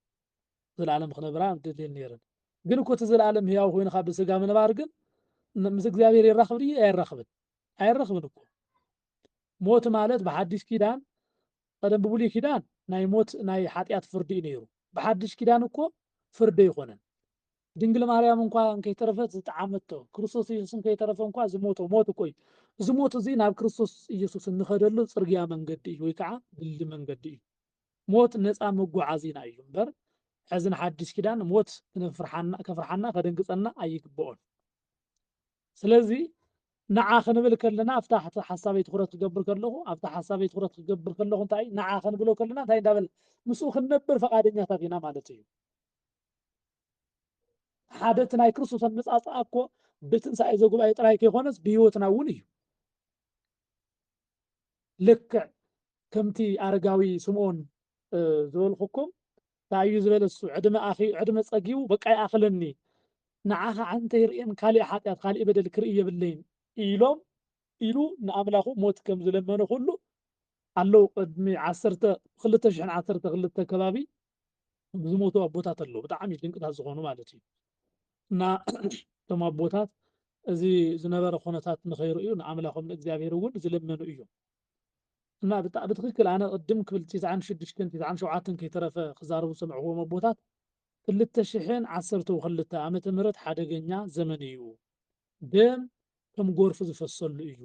ዘለኣለም ኽነብራ ደልየን ነይረን። ግን እኮ እቲ ዘለኣለም ህያው ኮይንኻ ብስጋ ምንባር ግን ን- ምስ እግዚኣብሔር የራኽብ ድዩ? ኣየራኽብን። ኣየራኽብን እኮ። ሞት ማለት ብሓዲሽ ኪዳን ቀደም ብብሉይ ኪዳን ናይ ሞት ናይ ሓጢኣት ፍርዲ እዩ ነይሩ። ብሓዲሽ ኪዳን እኮ ፍርዲ ኣይኮነን። ድንግል ማርያም እንኳ እንከይተረፈት ዝጠዓመቶ፣ ክርስቶስ ኢየሱስ እንከይተረፈ እንኳ ዝሞቶ ሞት እኮ እዩ። እዚ ሞት እዚ ናብ ክርስቶስ ኢየሱስ እንኸደሉ ጽርግያ መንገዲ እዩ ወይ ከዓ ድልድል መንገዲ እዩ። ሞት ነፃ መጓዓዚና እዩ እምበር ሕዚ ንሓዲስ ኪዳን ሞት ከፍርሓና ከደንግጸና ኣይግብኦን። ስለዚ ንዓ ክንብል ከለና ኣብታ ሓሳበይ ትኹረት ክገብር ከለኹ ኣብታ ሓሳበይ ትኹረት ክገብር ከለኹ እንታይ ንዓ ክንብሎ ከለና እንታይ እንዳበለ ምስኡ ክንነብር ፈቃደኛታት ኢና ማለት እዩ። ሓደ እቲ ናይ ክርስቶስ ኣመጻጽኣ እኮ ብትንሳኤ ዘጉባኤ ጥራይ ከይኮነስ ብህይወትና እውን እዩ ልክዕ ከምቲ ኣረጋዊ ስምዖን ዝበልኩኩም እንታይ እዩ ዝበለ እሱ ዕድመ ኣኺ ዕድመ ጸጊቡ በቃ ይኣኽለኒ ንዓኻ ዓንተ ይርእን ካሊእ ሓጢኣት ካሊእ በደል ክርኢ የብለይን ኢሎም ኢሉ ንኣምላኹ ሞት ከም ዝለመነ ኩሉ ኣለዉ ቅድሚ ዓሰርተ ክልተ ሽሕን ዓሰርተ ክልተ ከባቢ ዝሞቱ ኣቦታት ኣለዉ ብጣዕሚ ድንቅታት ዝኾኑ ማለት እዩ እና እቶም ኣቦታት እዚ ዝነበረ ኩነታት ንኸይርእዩ ንኣምላኾም ንእግዚኣብሔር እውን ዝለመኑ እዮም እና ብጣዕ ብትክክል ኣነ ቅድም ክብል ትስዓን ሽዱሽተን ትስዓን ሸውዓተን ከይተረፈ ክዛረቡ ዝሰምዕዎም ኣቦታት ክልተ ሽሕን ዓሰርተ ክልተ ዓመተ ምህረት ሓደገኛ ዘመን እዩ ደም ከም ጎርፊ ዝፈሰሉ እዩ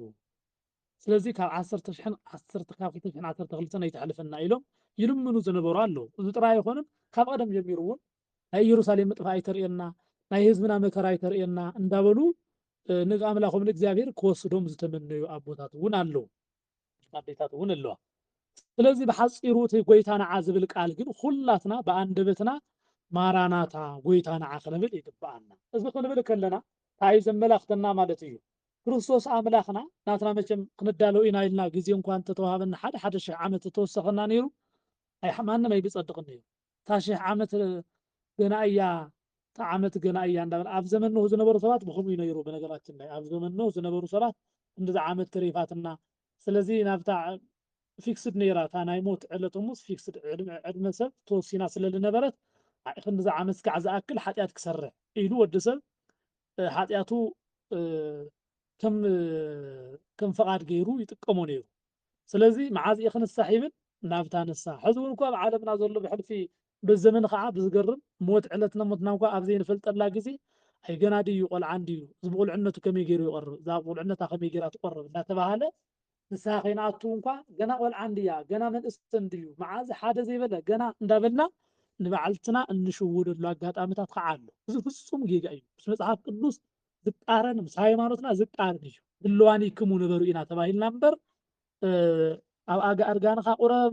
ስለዚ ካብ ዓሰርተ ሽሕን ዓሰርተ ካብ ክልተ ሽሕን ዓሰርተ ክልተን ኣይተሕልፈና ኢሎም ይልምኑ ዝነበሩ ኣለዉ። እዚ ጥራይ ኣይኮነን ካብ ቐደም ጀሚሩ እውን ናይ ኢየሩሳሌም ምጥፋእ ኣይተርእየና፣ ናይ ህዝብና መከራ ኣይተርእየና እንዳበሉ ንኣምላኾም ንእግዚኣብሔር ክወስዶም ዝተመነዩ ኣቦታት እውን ኣለዉ፣ ኣዴታት እውን ኣለዋ። ስለዚ ብሓጺሩ እቲ ጐይታ ንዓ ዝብል ቃል ግን ኹላትና ብኣንደበትና ማራናታ ጐይታ ንዓ ክንብል ይግብኣና። እዚ ክንብል ከለና ታይ እዩ ዘመላኽተና ማለት እዩ? ክርስቶስ ኣምላኽና ናትና መቸም ክንዳሎ ኢና ኢልና ግዜ እኳ እንተተዋሃበና ሓደ ሓደ ሽሕ ዓመት እተወሰኸና ነይሩ ኣይ ማንም ኣይብጸድቕን ነይሩ እታ ሽሕ ዓመት ገና እያ እታ ዓመት ገና እያ እንዳበለ ኣብ ዘመን ኖህ ዝነበሩ ሰባት ብከምኡ እዩ ነይሩ ብነገራችን ላይ ኣብ ዘመን ኖህ ዝነበሩ ሰባት እንደዛ ዓመት ተሪፋትና ስለዚ ናብታ ፊክስድ ነይራ እታ ናይ ሞት ዕለት ሙስ ፊክስድ ዕድመ ሰብ ተወሲና ስለ ዝነበረት ክንዲዚ ዓመት ክሳዕ ዝኣክል ሓጢኣት ክሰርሕ ኢሉ ወዲ ሰብ ሓጢኣቱ ከም ፍቓድ ገይሩ ይጥቀሞ ነይሩ ስለዚ መዓዝ እየ ክንሳሕ ይብል ናብታ ንስሓ ሕዚ እውን እኳ ኣብ ዓለምና ዘሎ ብሕልፊ በዘመን ከዓ ብዝገርም ሞት ዕለት ነሞትና እኳ ኣብ ዘይንፈልጠላ ግዜ ኣይ ገና ድዩ ቆልዓ እንድዩ እዚ ብቑልዕነቱ ከመይ ገይሩ ይቐርብ እዛ ብቑልዕነታ ከመይ ገይራ ትቆርብ እናተባሃለ ንስሃ ከይንኣቱ እንኳ ገና ቆልዓ እንድያ ገና መንእስቲ እንድዩ መዓዝ ሓደ ዘይበለ ገና እንዳበልና ንባዕልትና እንሽውደሉ ኣጋጣምታት ኸዓ ኣሎ እዚ ፍጹም ጌጋ እዩ ምስ መጽሓፍ ቅዱስ ዝቃረን ምስ ሃይማኖትና ዝቃረን እዩ ድልዋኒክሙ ንበሩ ኢና ተባሂልና እምበር ኣብ ኣጋ እርጋንኻ ቁረብ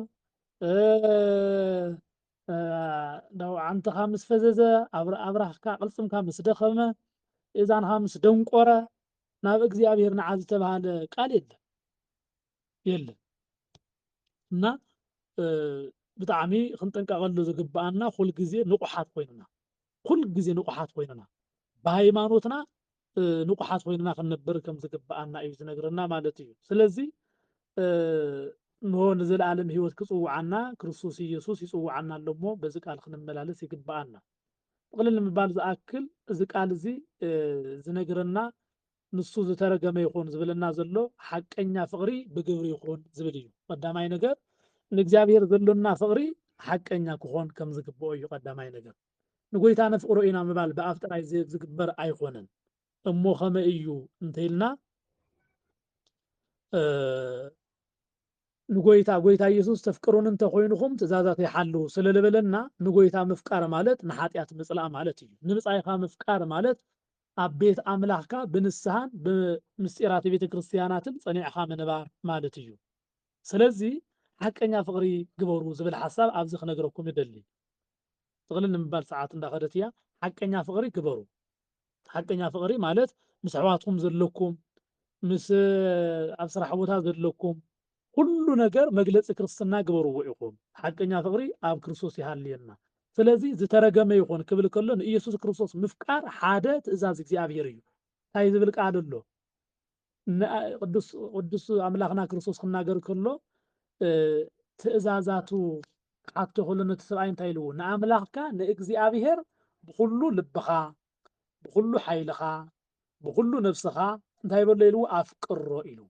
ዓንትኻ ምስ ፈዘዘ ኣብራህካ ቅልፅምካ ምስ ደኸመ እዛንኻ ምስ ደንቆረ ናብ እግዚኣብሔር ንዓ ዝተባሃለ ቃል የለን የለን እና ብጣዕሚ ክንጥንቀቐሉ ዝግብኣና ኩል ግዜ ንቑሓት ኮይንና ኩል ግዜ ንቑሓት ኮይንና ብሃይማኖትና ንቑሓት ኮይንና ክንነብር ከም ዝግብኣና እዩ ዝነግረና ማለት እዩ ስለዚ እንሆ ንዘለኣለም ህይወት ክጽውዓና ክርስቶስ ኢየሱስ ይጽውዓና ኣሎ እሞ በዚ ቃል ክንመላለስ ይግብኣና ጥቕልል ንምባል ዝኣክል እዚ ቃል እዚ ዝነግረና ንሱ ዝተረገመ ይኹን ዝብለና ዘሎ ሓቀኛ ፍቕሪ ብግብሪ ይኹን ዝብል እዩ። ቀዳማይ ነገር ንእግዚኣብሔር ዘሎና ፍቕሪ ሓቀኛ ክኾን ከም ዝግብኦ እዩ ቀዳማይ ነገር። ንጎይታ ነፍቕሮ ኢና ምባል ብኣፍ ጥራይ ዝግበር ኣይኮነን። እሞ ከመይ እዩ እንተይልና ንጎይታ ጎይታ ኢየሱስ ተፍቅሩኒ እንተ ኮይንኹም ትእዛዛተይ ሓልዉ ስለ ልበለና ንጎይታ ምፍቃር ማለት ንሓጢኣት ምጽላእ ማለት እዩ። ንብጻይካ ምፍቃር ማለት ኣብ ቤት ኣምላኽካ ብንስሃን ብምስጢራተ ቤተ ክርስትያናትን ጸኒዕኻ ምንባር ማለት እዩ። ስለዚ ሓቀኛ ፍቅሪ ግበሩ ዝብል ሓሳብ ኣብዚ ክነግረኩም እደሊ። ጥቅልል ንምባል ሰዓት እንዳ ከደት እያ። ሓቀኛ ፍቅሪ ግበሩ። ሓቀኛ ፍቕሪ ማለት ምስ ኣሕዋትኩም ዘለኩም ምስ ኣብ ስራሕ ቦታ ዘለኩም ኩሉ ነገር መግለፂ ክርስትና ግበርዎ ኢኹም። ሓቀኛ ፍቕሪ ኣብ ክርስቶስ ይሃልየና። ስለዚ ዝተረገመ ይኹን ክብል ከሎ ንኢየሱስ ክርስቶስ ምፍቃር ሓደ ትእዛዝ እግዚኣብሔር እዩ። እንታይ ዝብል ቃል ኣሎ? ንቅዱስ ኣምላኽና ክርስቶስ ክናገር ከሎ ትእዛዛቱ ክሓቶ ከሎ ነቲ ሰብኣይ እንታይ ኢልዎ? ንኣምላኽካ ንእግዚኣብሔር ብኹሉ ልብኻ፣ ብኹሉ ሓይልኻ፣ ብኹሉ ነብስኻ እንታይ በሎ ኢልዎ? ኣፍቅሮ ኢልዎ።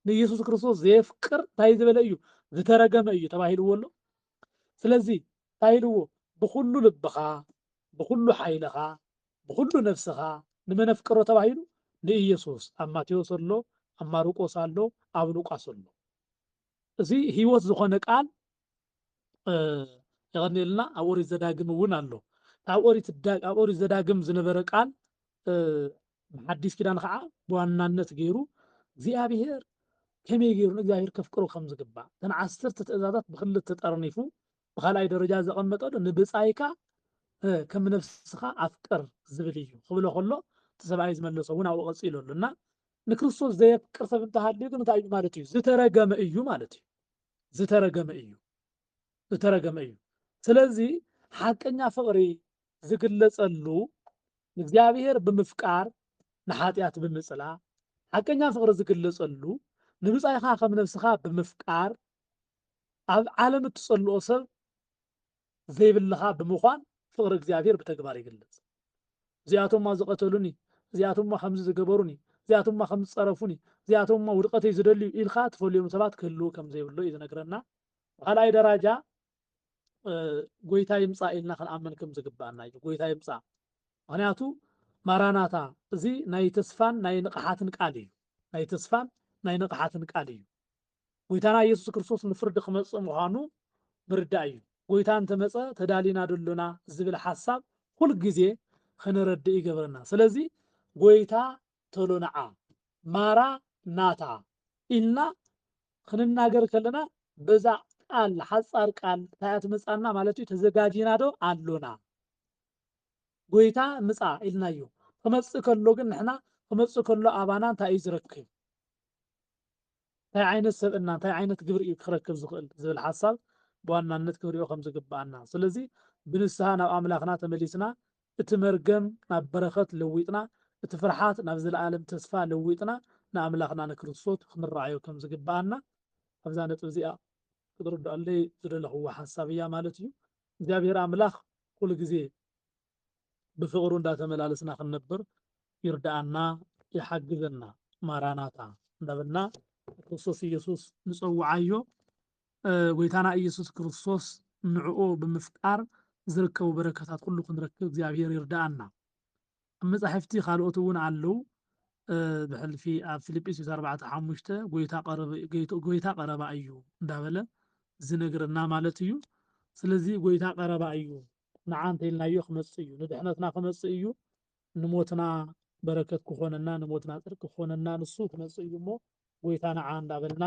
ንኢየሱስ ክርስቶስ ዘየፍቅር እንታይ ዝበለ እዩ? ዝተረገመ እዩ ተባሂልዎ ኣሎ። ስለዚ እንታይ ኢልዎ? ብኹሉ ልብኻ፣ ብኹሉ ሓይልኻ፣ ብኹሉ ነፍስኻ ንመነፍቅሮ ተባሂሉ ንኢየሱስ ኣብ ማቴዎስ ኣሎ ኣብ ማርቆስ ኣሎ ኣብ ሉቃስ ኣሎ እዚ ህይወት ዝኾነ ቃል የቐንየልና ኣብ ኦሪት ዘዳግም እውን ኣሎ ኣብ ኦሪት ዘዳግም ዝነበረ ቃል ሓዲስ ኪዳን ከዓ ብዋናነት ገይሩ እግዚኣብሔር ከመይ ገይሩ ንእግዚኣብሔር ከፍቅሮ ከም ዝግባእ እተን ዓሰርተ ትእዛዛት ብክልተ ጠርኒፉ ብካልኣይ ደረጃ ዘቐመጦ ዶ ንብጻይካ ከም ነፍስኻ ኣፍቅር ዝብል እዩ ክብሎ ከሎ እቲ ሰብኣይ ዝመለሶ እውን ኣብኡ ቀጺሉ ኣሎ እና ንክርስቶስ ዘየፍቅር ሰብ እንተሃልዩ ግን እንታይ እዩ ማለት እዩ ዝተረገመ እዩ ማለት እዩ ዝተረገመ እዩ ዝተረገመ እዩ ስለዚ ሓቀኛ ፍቕሪ ዝግለጸሉ ንእግዚኣብሔር ብምፍቃር ንሓጢኣት ብምጽላ ሓቀኛ ፍቕሪ ዝግለጸሉ ንብጻይኻ ከም ነብስኻ ብምፍቃር ኣብ ዓለም እትጸልኦ ሰብ ዘይብልኻ ብምዃን ፍቕሪ እግዚኣብሔር ብተግባር ይግለጽ። እዚኣቶማ ዝቐተሉኒ፣ እዚኣቶማ ከምዚ ዝገበሩኒ፣ እዚኣቶማ ከምዚ ዝጸረፉኒ፣ እዚኣቶማ ውድቐተይ ዝደልዩ ኢልካ ትፈልዮም ሰባት ክህልዉ ከም ዘይብሉ እዩ ዝነግረና። ብኻልኣይ ደራጃ ጎይታ ይምጻእ ኢልና ክንኣምን ከም ዝግብኣና እዩ። ጎይታ ይምጻእ ምክንያቱ ማራናታ እዚ ናይ ተስፋን ናይ ንቕሓትን ቃል እዩ። ናይ ተስፋን ናይ ንቕሓትን ቃል እዩ። ጎይታና ኢየሱስ ክርስቶስ ንፍርዲ ክመጽእ ምዃኑ ምርዳእ እዩ። ጎይታ እንተ መጸ ተዳሊና ዶ ኣሎና ዝብል ሓሳብ ኩል ግዜ ኽንረድእ ይገብረና። ስለዚ ጎይታ ተሎ ንዓ፣ ማራ ናታ፣ ኢልና ኽንናገር ከለና በዛ ቃል ሓጻር ቃል እንታይ እያ ትመጽኣና ማለት እዩ ተዘጋጂና ዶ ኣሎና። ጎይታ ምጻ ኢልናዮ ክመጽእ ከሎ ግን ንሕና ክመጽእ ከሎ ኣባና እንታይ እዩ ዝረክብ? እንታይ ዓይነት ሰብእና፣ እንታይ ዓይነት ግብሪ እዩ ክረክብ ዝኽእል ዝብል ሓሳብ ብዋናነት ክንሪኦ ከም ዝግብኣና። ስለዚ ብንስሃ ናብ ኣምላኽና ተመሊስና፣ እቲ መርገም ናብ በረኸት ለዊጥና፣ እቲ ፍርሓት ናብ ዘለኣለም ተስፋ ለዊጥና ንኣምላኽና ንክርስቶት ክንረኣዮ ከም ዝግብኣና ኣብዛ ነጥቢ እዚኣ ክትርድኣለይ ዝደለኽዋ ሓሳብ እያ ማለት እዩ። እግዚኣብሔር ኣምላኽ ኩሉ ግዜ ብፍቕሩ እንዳተመላለስና ክንነብር ይርድኣና ይሓግዘና ማራናታ እንዳበልና ንክርስቶስ ኢየሱስ ንጸውዓዮ ጎይታና ኢየሱስ ክርስቶስ ንዕኡ ብምፍቃር ዝርከቡ በረከታት ኩሉ ክንረክብ እግዚኣብሔር ይርድኣና ኣብ መጻሕፍቲ ካልኦት እውን ኣለው ብሕልፊ ኣብ ፊልጵስዩስ ኣርባዕተ ሓሙሽተ ጎይታ ቀረባ እዩ እንዳበለ ዝነግረና ማለት እዩ ስለዚ ጎይታ ቀረባ እዩ ንዓ እንተኢልናዮ ክመጽእ እዩ፣ ንድሕነትና ክመጽእ እዩ፣ ንሞትና በረከት ክኾነና፣ ንሞትና ጽድቂ ክኾነና ንሱ ክመጽእ እዩ እሞ ጎይታ ንዓ እንዳበልና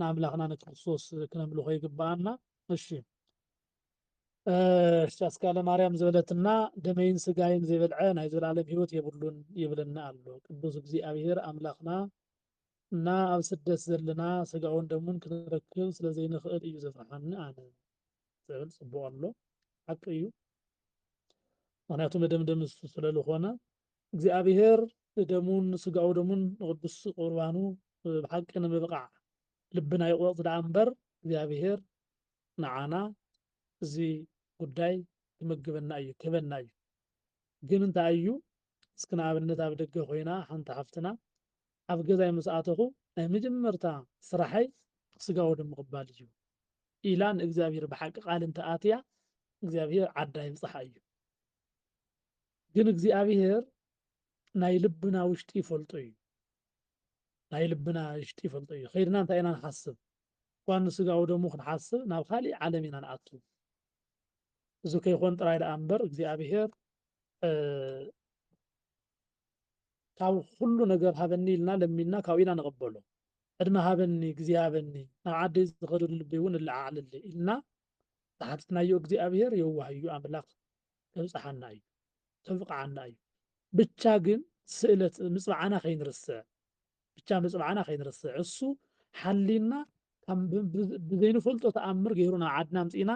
ንኣምላኽና ንክርስቶስ ክነምልኾ ይግብኣና። እሺ እሺ ኣስካለ ማርያም ዝበለትና ደመይን ስጋይን ዘይበልዐ ናይ ዘላለም ህይወት የብሉን ይብለና ኣሎ ቅዱስ እግዚኣብሔር ኣምላኽና እና ኣብ ስደት ዘለና ስጋውን ደሙን ክንረክብ ስለዘይንኽእል እዩ ዘፍርሓኒ ኣነ ትብል ጽቡቅ ኣሎ ሓቂ እዩ ምክንያቱ መደምደም እሱ ስለልኾነ እግዚኣብሔር ንደሙን ንስጋኡ ደሙን ንቅዱስ ቁርባኑ ብሓቂ ንምብቃዕ ልብና ይቁረጽ ደኣ እምበር እግዚኣብሔር ንዓና እዚ ጉዳይ ክምግበና እዩ ክህበና እዩ ግን እንታይ እዩ እስኪ ንኣብነት ኣብ ደገ ኮይና ሓንቲ ሓፍትና ኣብ ገዛይ ምስ ኣተኹ ናይ መጀመርታ ስራሐይ ስጋ ወደሙ ምቕባል እዩ ኢላ ንእግዚኣብሔር ብሓቂ ቃል እንተ ኣትያ እግዚኣብሔር ዓዳ ይብጽሓ እዩ ግን እግዚኣብሔር ናይ ልብና ውሽጢ ይፈልጦ እዩ ናይ ልብና ውሽጢ ይፈልጦ እዩ ከይድና እንታይ ኢና ንሓስብ እኳ ንስጋዊ ደሙ ክንሓስብ ናብ ካሊእ ዓለም ኢና ንኣቱ እዚ ከይኮን ጥራይ ደኣ እምበር እግዚኣብሔር ካብ ኹሉ ነገር ሃበኒ ኢልና ለሚንና ካብኡ ኢና ንቕበሎ። ዕድመ ሃበኒ ግዜ ሃበኒ ናብ ዓደይ ዝኸደሉ ልበይ እውን እለዓዓለለይ ኢልና ተሓቲትናዮ እግዚኣብሔር የዋህ እዩ ኣምላኽ ከብጽሓና እዩ ከብቕዓና እዩ ብቻ ግን ስእለት ምጽብዓና ከይንርስዕ ብቻ ምጽብዓና ከይንርስዕ እሱ ሓሊና ብዘይንፈልጦ ተኣምር ገይሩ ናብ ዓድና ኣምጺእና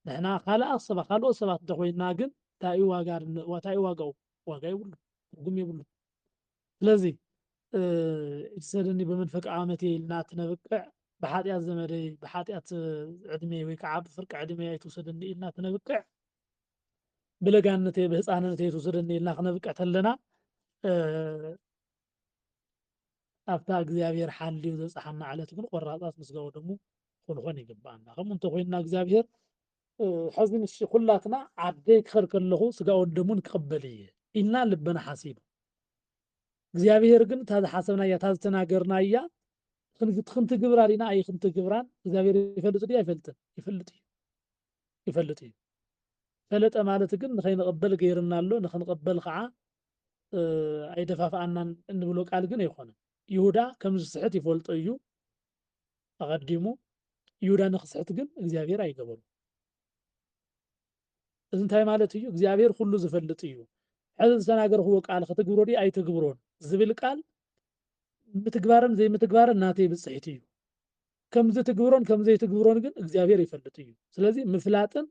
ንሕና ካልኣ ሰባት ካልኦት ሰባት እንተኾይንና ግን እንታይ እዩ ዋጋ እንታይ እዩ ዋጋኡ ዋጋ የብሉን፣ ትርጉም የብሉን። ስለዚ እቲ ሰደኒ በመንፈቀ ዓመት ኢልና ትነብቅዕ ብሓጢኣት ዘመደይ ብሓጢኣት ዕድሜይ ወይ ከዓ ብፍርቂ ዕድሜይ ኣይትውሰደኒ ኢልና ትነብቅዕ ብለጋነተይ ብህፃንነተይ ትውሰደኒ ኢልና ክነብቅዕ ተለና ኣብታ እግዚኣብሔር ሓልዩ ዘብፅሓና ዕለት ግን ቆራፃት ምስጋው ደሙ ክንኾን ይግባኣና ከምኡ እንተኮይንና እግዚኣብሔር ሐዚ ንሱ ኩላትና ዓደይ ክኸድ ከለኹ ስጋኡን ደሙን ክቕበል እየ ኢልና ልብና ሓሲቡ እግዚኣብሔር ግን እታ ዝሓሰብናያ እታ ዝተናገርናያ ክንትግብራ ዲና ኣይክንትግብራን እግዚኣብሔር ይፈልጥ ድዩ ኣይፈልጥን ይፈልጥ እዩ ይፈልጥ እዩ ፈለጠ ማለት ግን ንኸይንቕበል ገይርና ኣሎ ንክንቕበል ከዓ ኣይደፋፍኣናን እንብሎ ቃል ግን ኣይኮነን ይሁዳ ከም ዝስሕት ይፈልጦ እዩ ኣቐዲሙ ይሁዳ ንክስሕት ግን እግዚኣብሔር ኣይገበሩ እዚ እንታይ ማለት እዩ እግዚኣብሔር ኩሉ ዝፈልጥ እዩ ሕዚ ዝተናገርክዎ ቃል ክትግብሮ ድዩ ኣይትግብሮን ዝብል ቃል ምትግባርን ዘይምትግባርን ናተይ ብፅሒት እዩ ከምዚ ትግብሮን ከምዘይትግብሮን ግን እግዚኣብሔር ይፈልጥ እዩ ስለዚ ምፍላጥን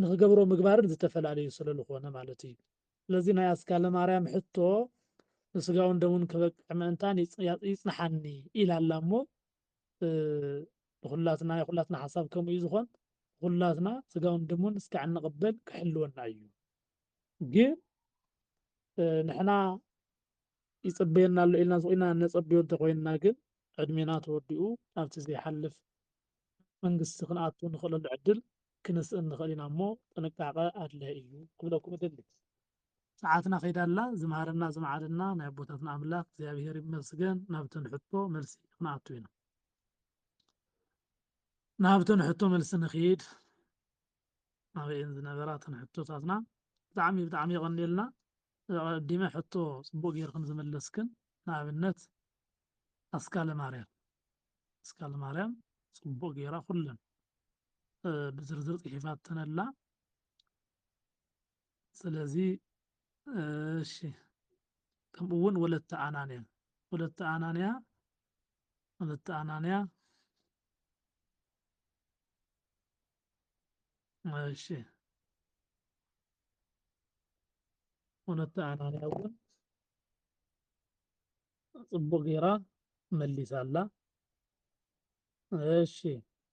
ንክገብሮ ምግባርን ዝተፈላለዩ ስለልኾነ ማለት እዩ። ስለዚ ናይ ኣስካለ ማርያም ሕቶ ንስጋውን ደሙን ክበቅዕ ምእንታን ይጽንሓኒ ኢላ ኣላ እሞ ንኹላትና ናይ ኩላትና ሓሳብ ከምኡ እዩ ዝኾን ኩላትና ስጋውን ደሙን እስካዕ እንቕበል ክሕልወና እዩ ግን ንሕና ይጽበየና ኣሎ ኢልና ዝቑና ነጸብዮ እንተኾይንና ግን ዕድሜና ተወዲኡ ናብቲ ዘይሓልፍ መንግስቲ ክንኣቱ ንኽእለሉ ዕድል ክንስእን ንኽእል ኢና እሞ ጥንቃቐ ኣድላይ እዩ ክብለኩም እደሊ። ሰዓትና ከይዳ ኣላ ዝመሃረና ዝመዓደና ናይ ኣቦታትና ኣምላክ እግዚኣብሔር ይመስገን ናብተን ሕቶ መልሲ ክንኣቱ ኢና። ናብተን ሕቶ መልሲ ንክይድ ኣበየን ዝነበራ ተን ሕቶታትና ብጣዕሚ ብጣዕሚ የቐንየልና ኣቐዲመ ሕቶ ጽቡቕ ጌርክን ዝመለስክን ንኣብነት ኣስካለ ማርያም ኣስካለ ማርያም ጽቡቕ ጌራ ኩለን ብዝርዝር ጽሒፋተን ኣላ ስለዚ እሺ ከምኡ እውን ወለተ ኣናንያ ወለተ ኣናንያ ወለተ ኣናንያ እሺ ወነታ ኣናንያ እውን ፅቡቅ ጌራ መሊሳ ኣላ እሺ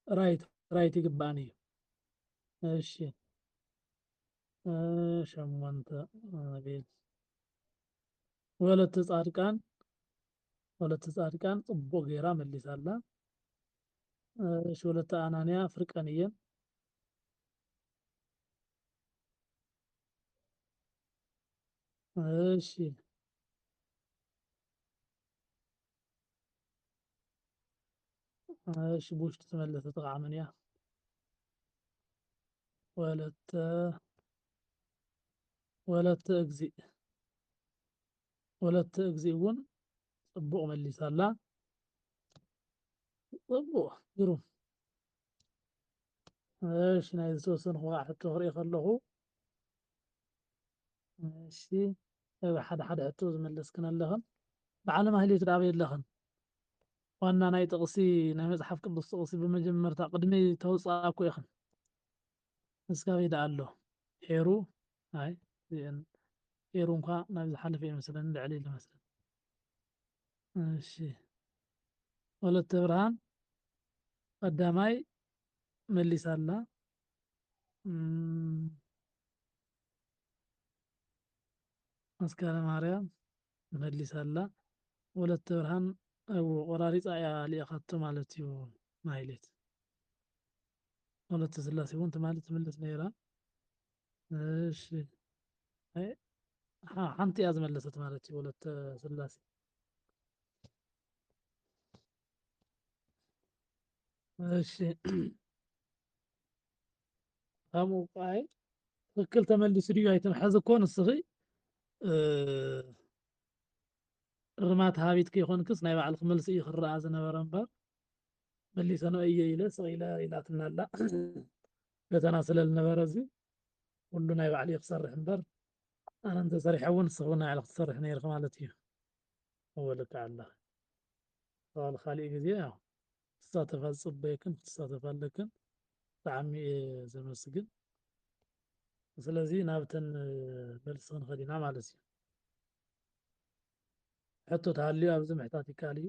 ራይት ራይት ይግባእን እዩ እሺ ሸሞንተ ቤት ወለተ ፃድቃን ወለተ ፃድቃን ፅቡቅ ጌራ መሊሳ ኣላ እሺ ወለተ ኣናንያ ፍርቀን እየን እሺ እሺ ብውሽጢ ተመለሰ ተቃዕመን እያ ወለተ ወለተ እግዚእ ወለተ እግዚእ እውን ፅቡቕ መሊሳ ኣላ። ፅቡቕ ግሩም እሺ ናይ ዝተወሰንኩ ከዓ ሕቶ ክርኢ ከለኹ እሺ ኣብ ሓደ ሓደ ሕቶ ዝመለስክን ኣለኽን በዓለ ማህሌት ዶ ኣበይ ኣለኽን ዋና ናይ ጥቕሲ ናይ መፅሓፍ ቅዱስ ጥቕሲ ብመጀመርታ ቅድሚ ተውፃእኩ ኢኽን እስካበይ ደኣ ኣሎ ሄሩ ኣይ እዚኤን ኤሩ እንኳ ናብ ዝሓለፈ እዩ መስለኒ ልዕል ኢሉ መስለኒ እሺ ወለተ ብርሃን ቀዳማይ መሊሳ ኣላ መስከረ ማርያም መሊሳ ኣላ ወለተ ብርሃን እው ቆራሪፃ እያ ልኢኻቶ ማለት እዩ ማይሌት ወለተ ስላሴ እውን ትማሊ ትምልስ ነይራ እሺ አይ ሀ- ሀንቲ ያዝ መለሰት ማለት ወለተ ስላሴ እሺ ሀሙ አይ ትክክል ተመሊሱ ድዩ ኣይትም ሐዚ እኮ ንስኺ እ፣ እርማት ሃቢት ከይኮንክስ ናይ ባዕልክ መልሲ እዩ ክረኣ ዝነበረ እምበር መሊሰኖ እየ ኢለ ስቕ ኢለ ኢላትና ኣላ ፈተና ስለ ዝነበረ እዚ ኩሉ ናይ ባዕለይ ክሰርሕ እምበር ኣነ እንተሰሪሐ እውን ንስኹም ናይ ባዕልክ ትሰርሕ ነይርክ ማለት እዩ ኣወለካ ኣላ ተባል ካሊእ ግዜ ያው ትሳተፋ ዝፅበየክን ክትሳተፋ ኣለክን ብጣዕሚ እየ ዘመስግን ስለዚ ናብተን መልሲ ክንኸድ ኢና ማለት እዩ ሕቶ ተሃልዩ ኣብዚ ምሕታት ይከኣል እዩ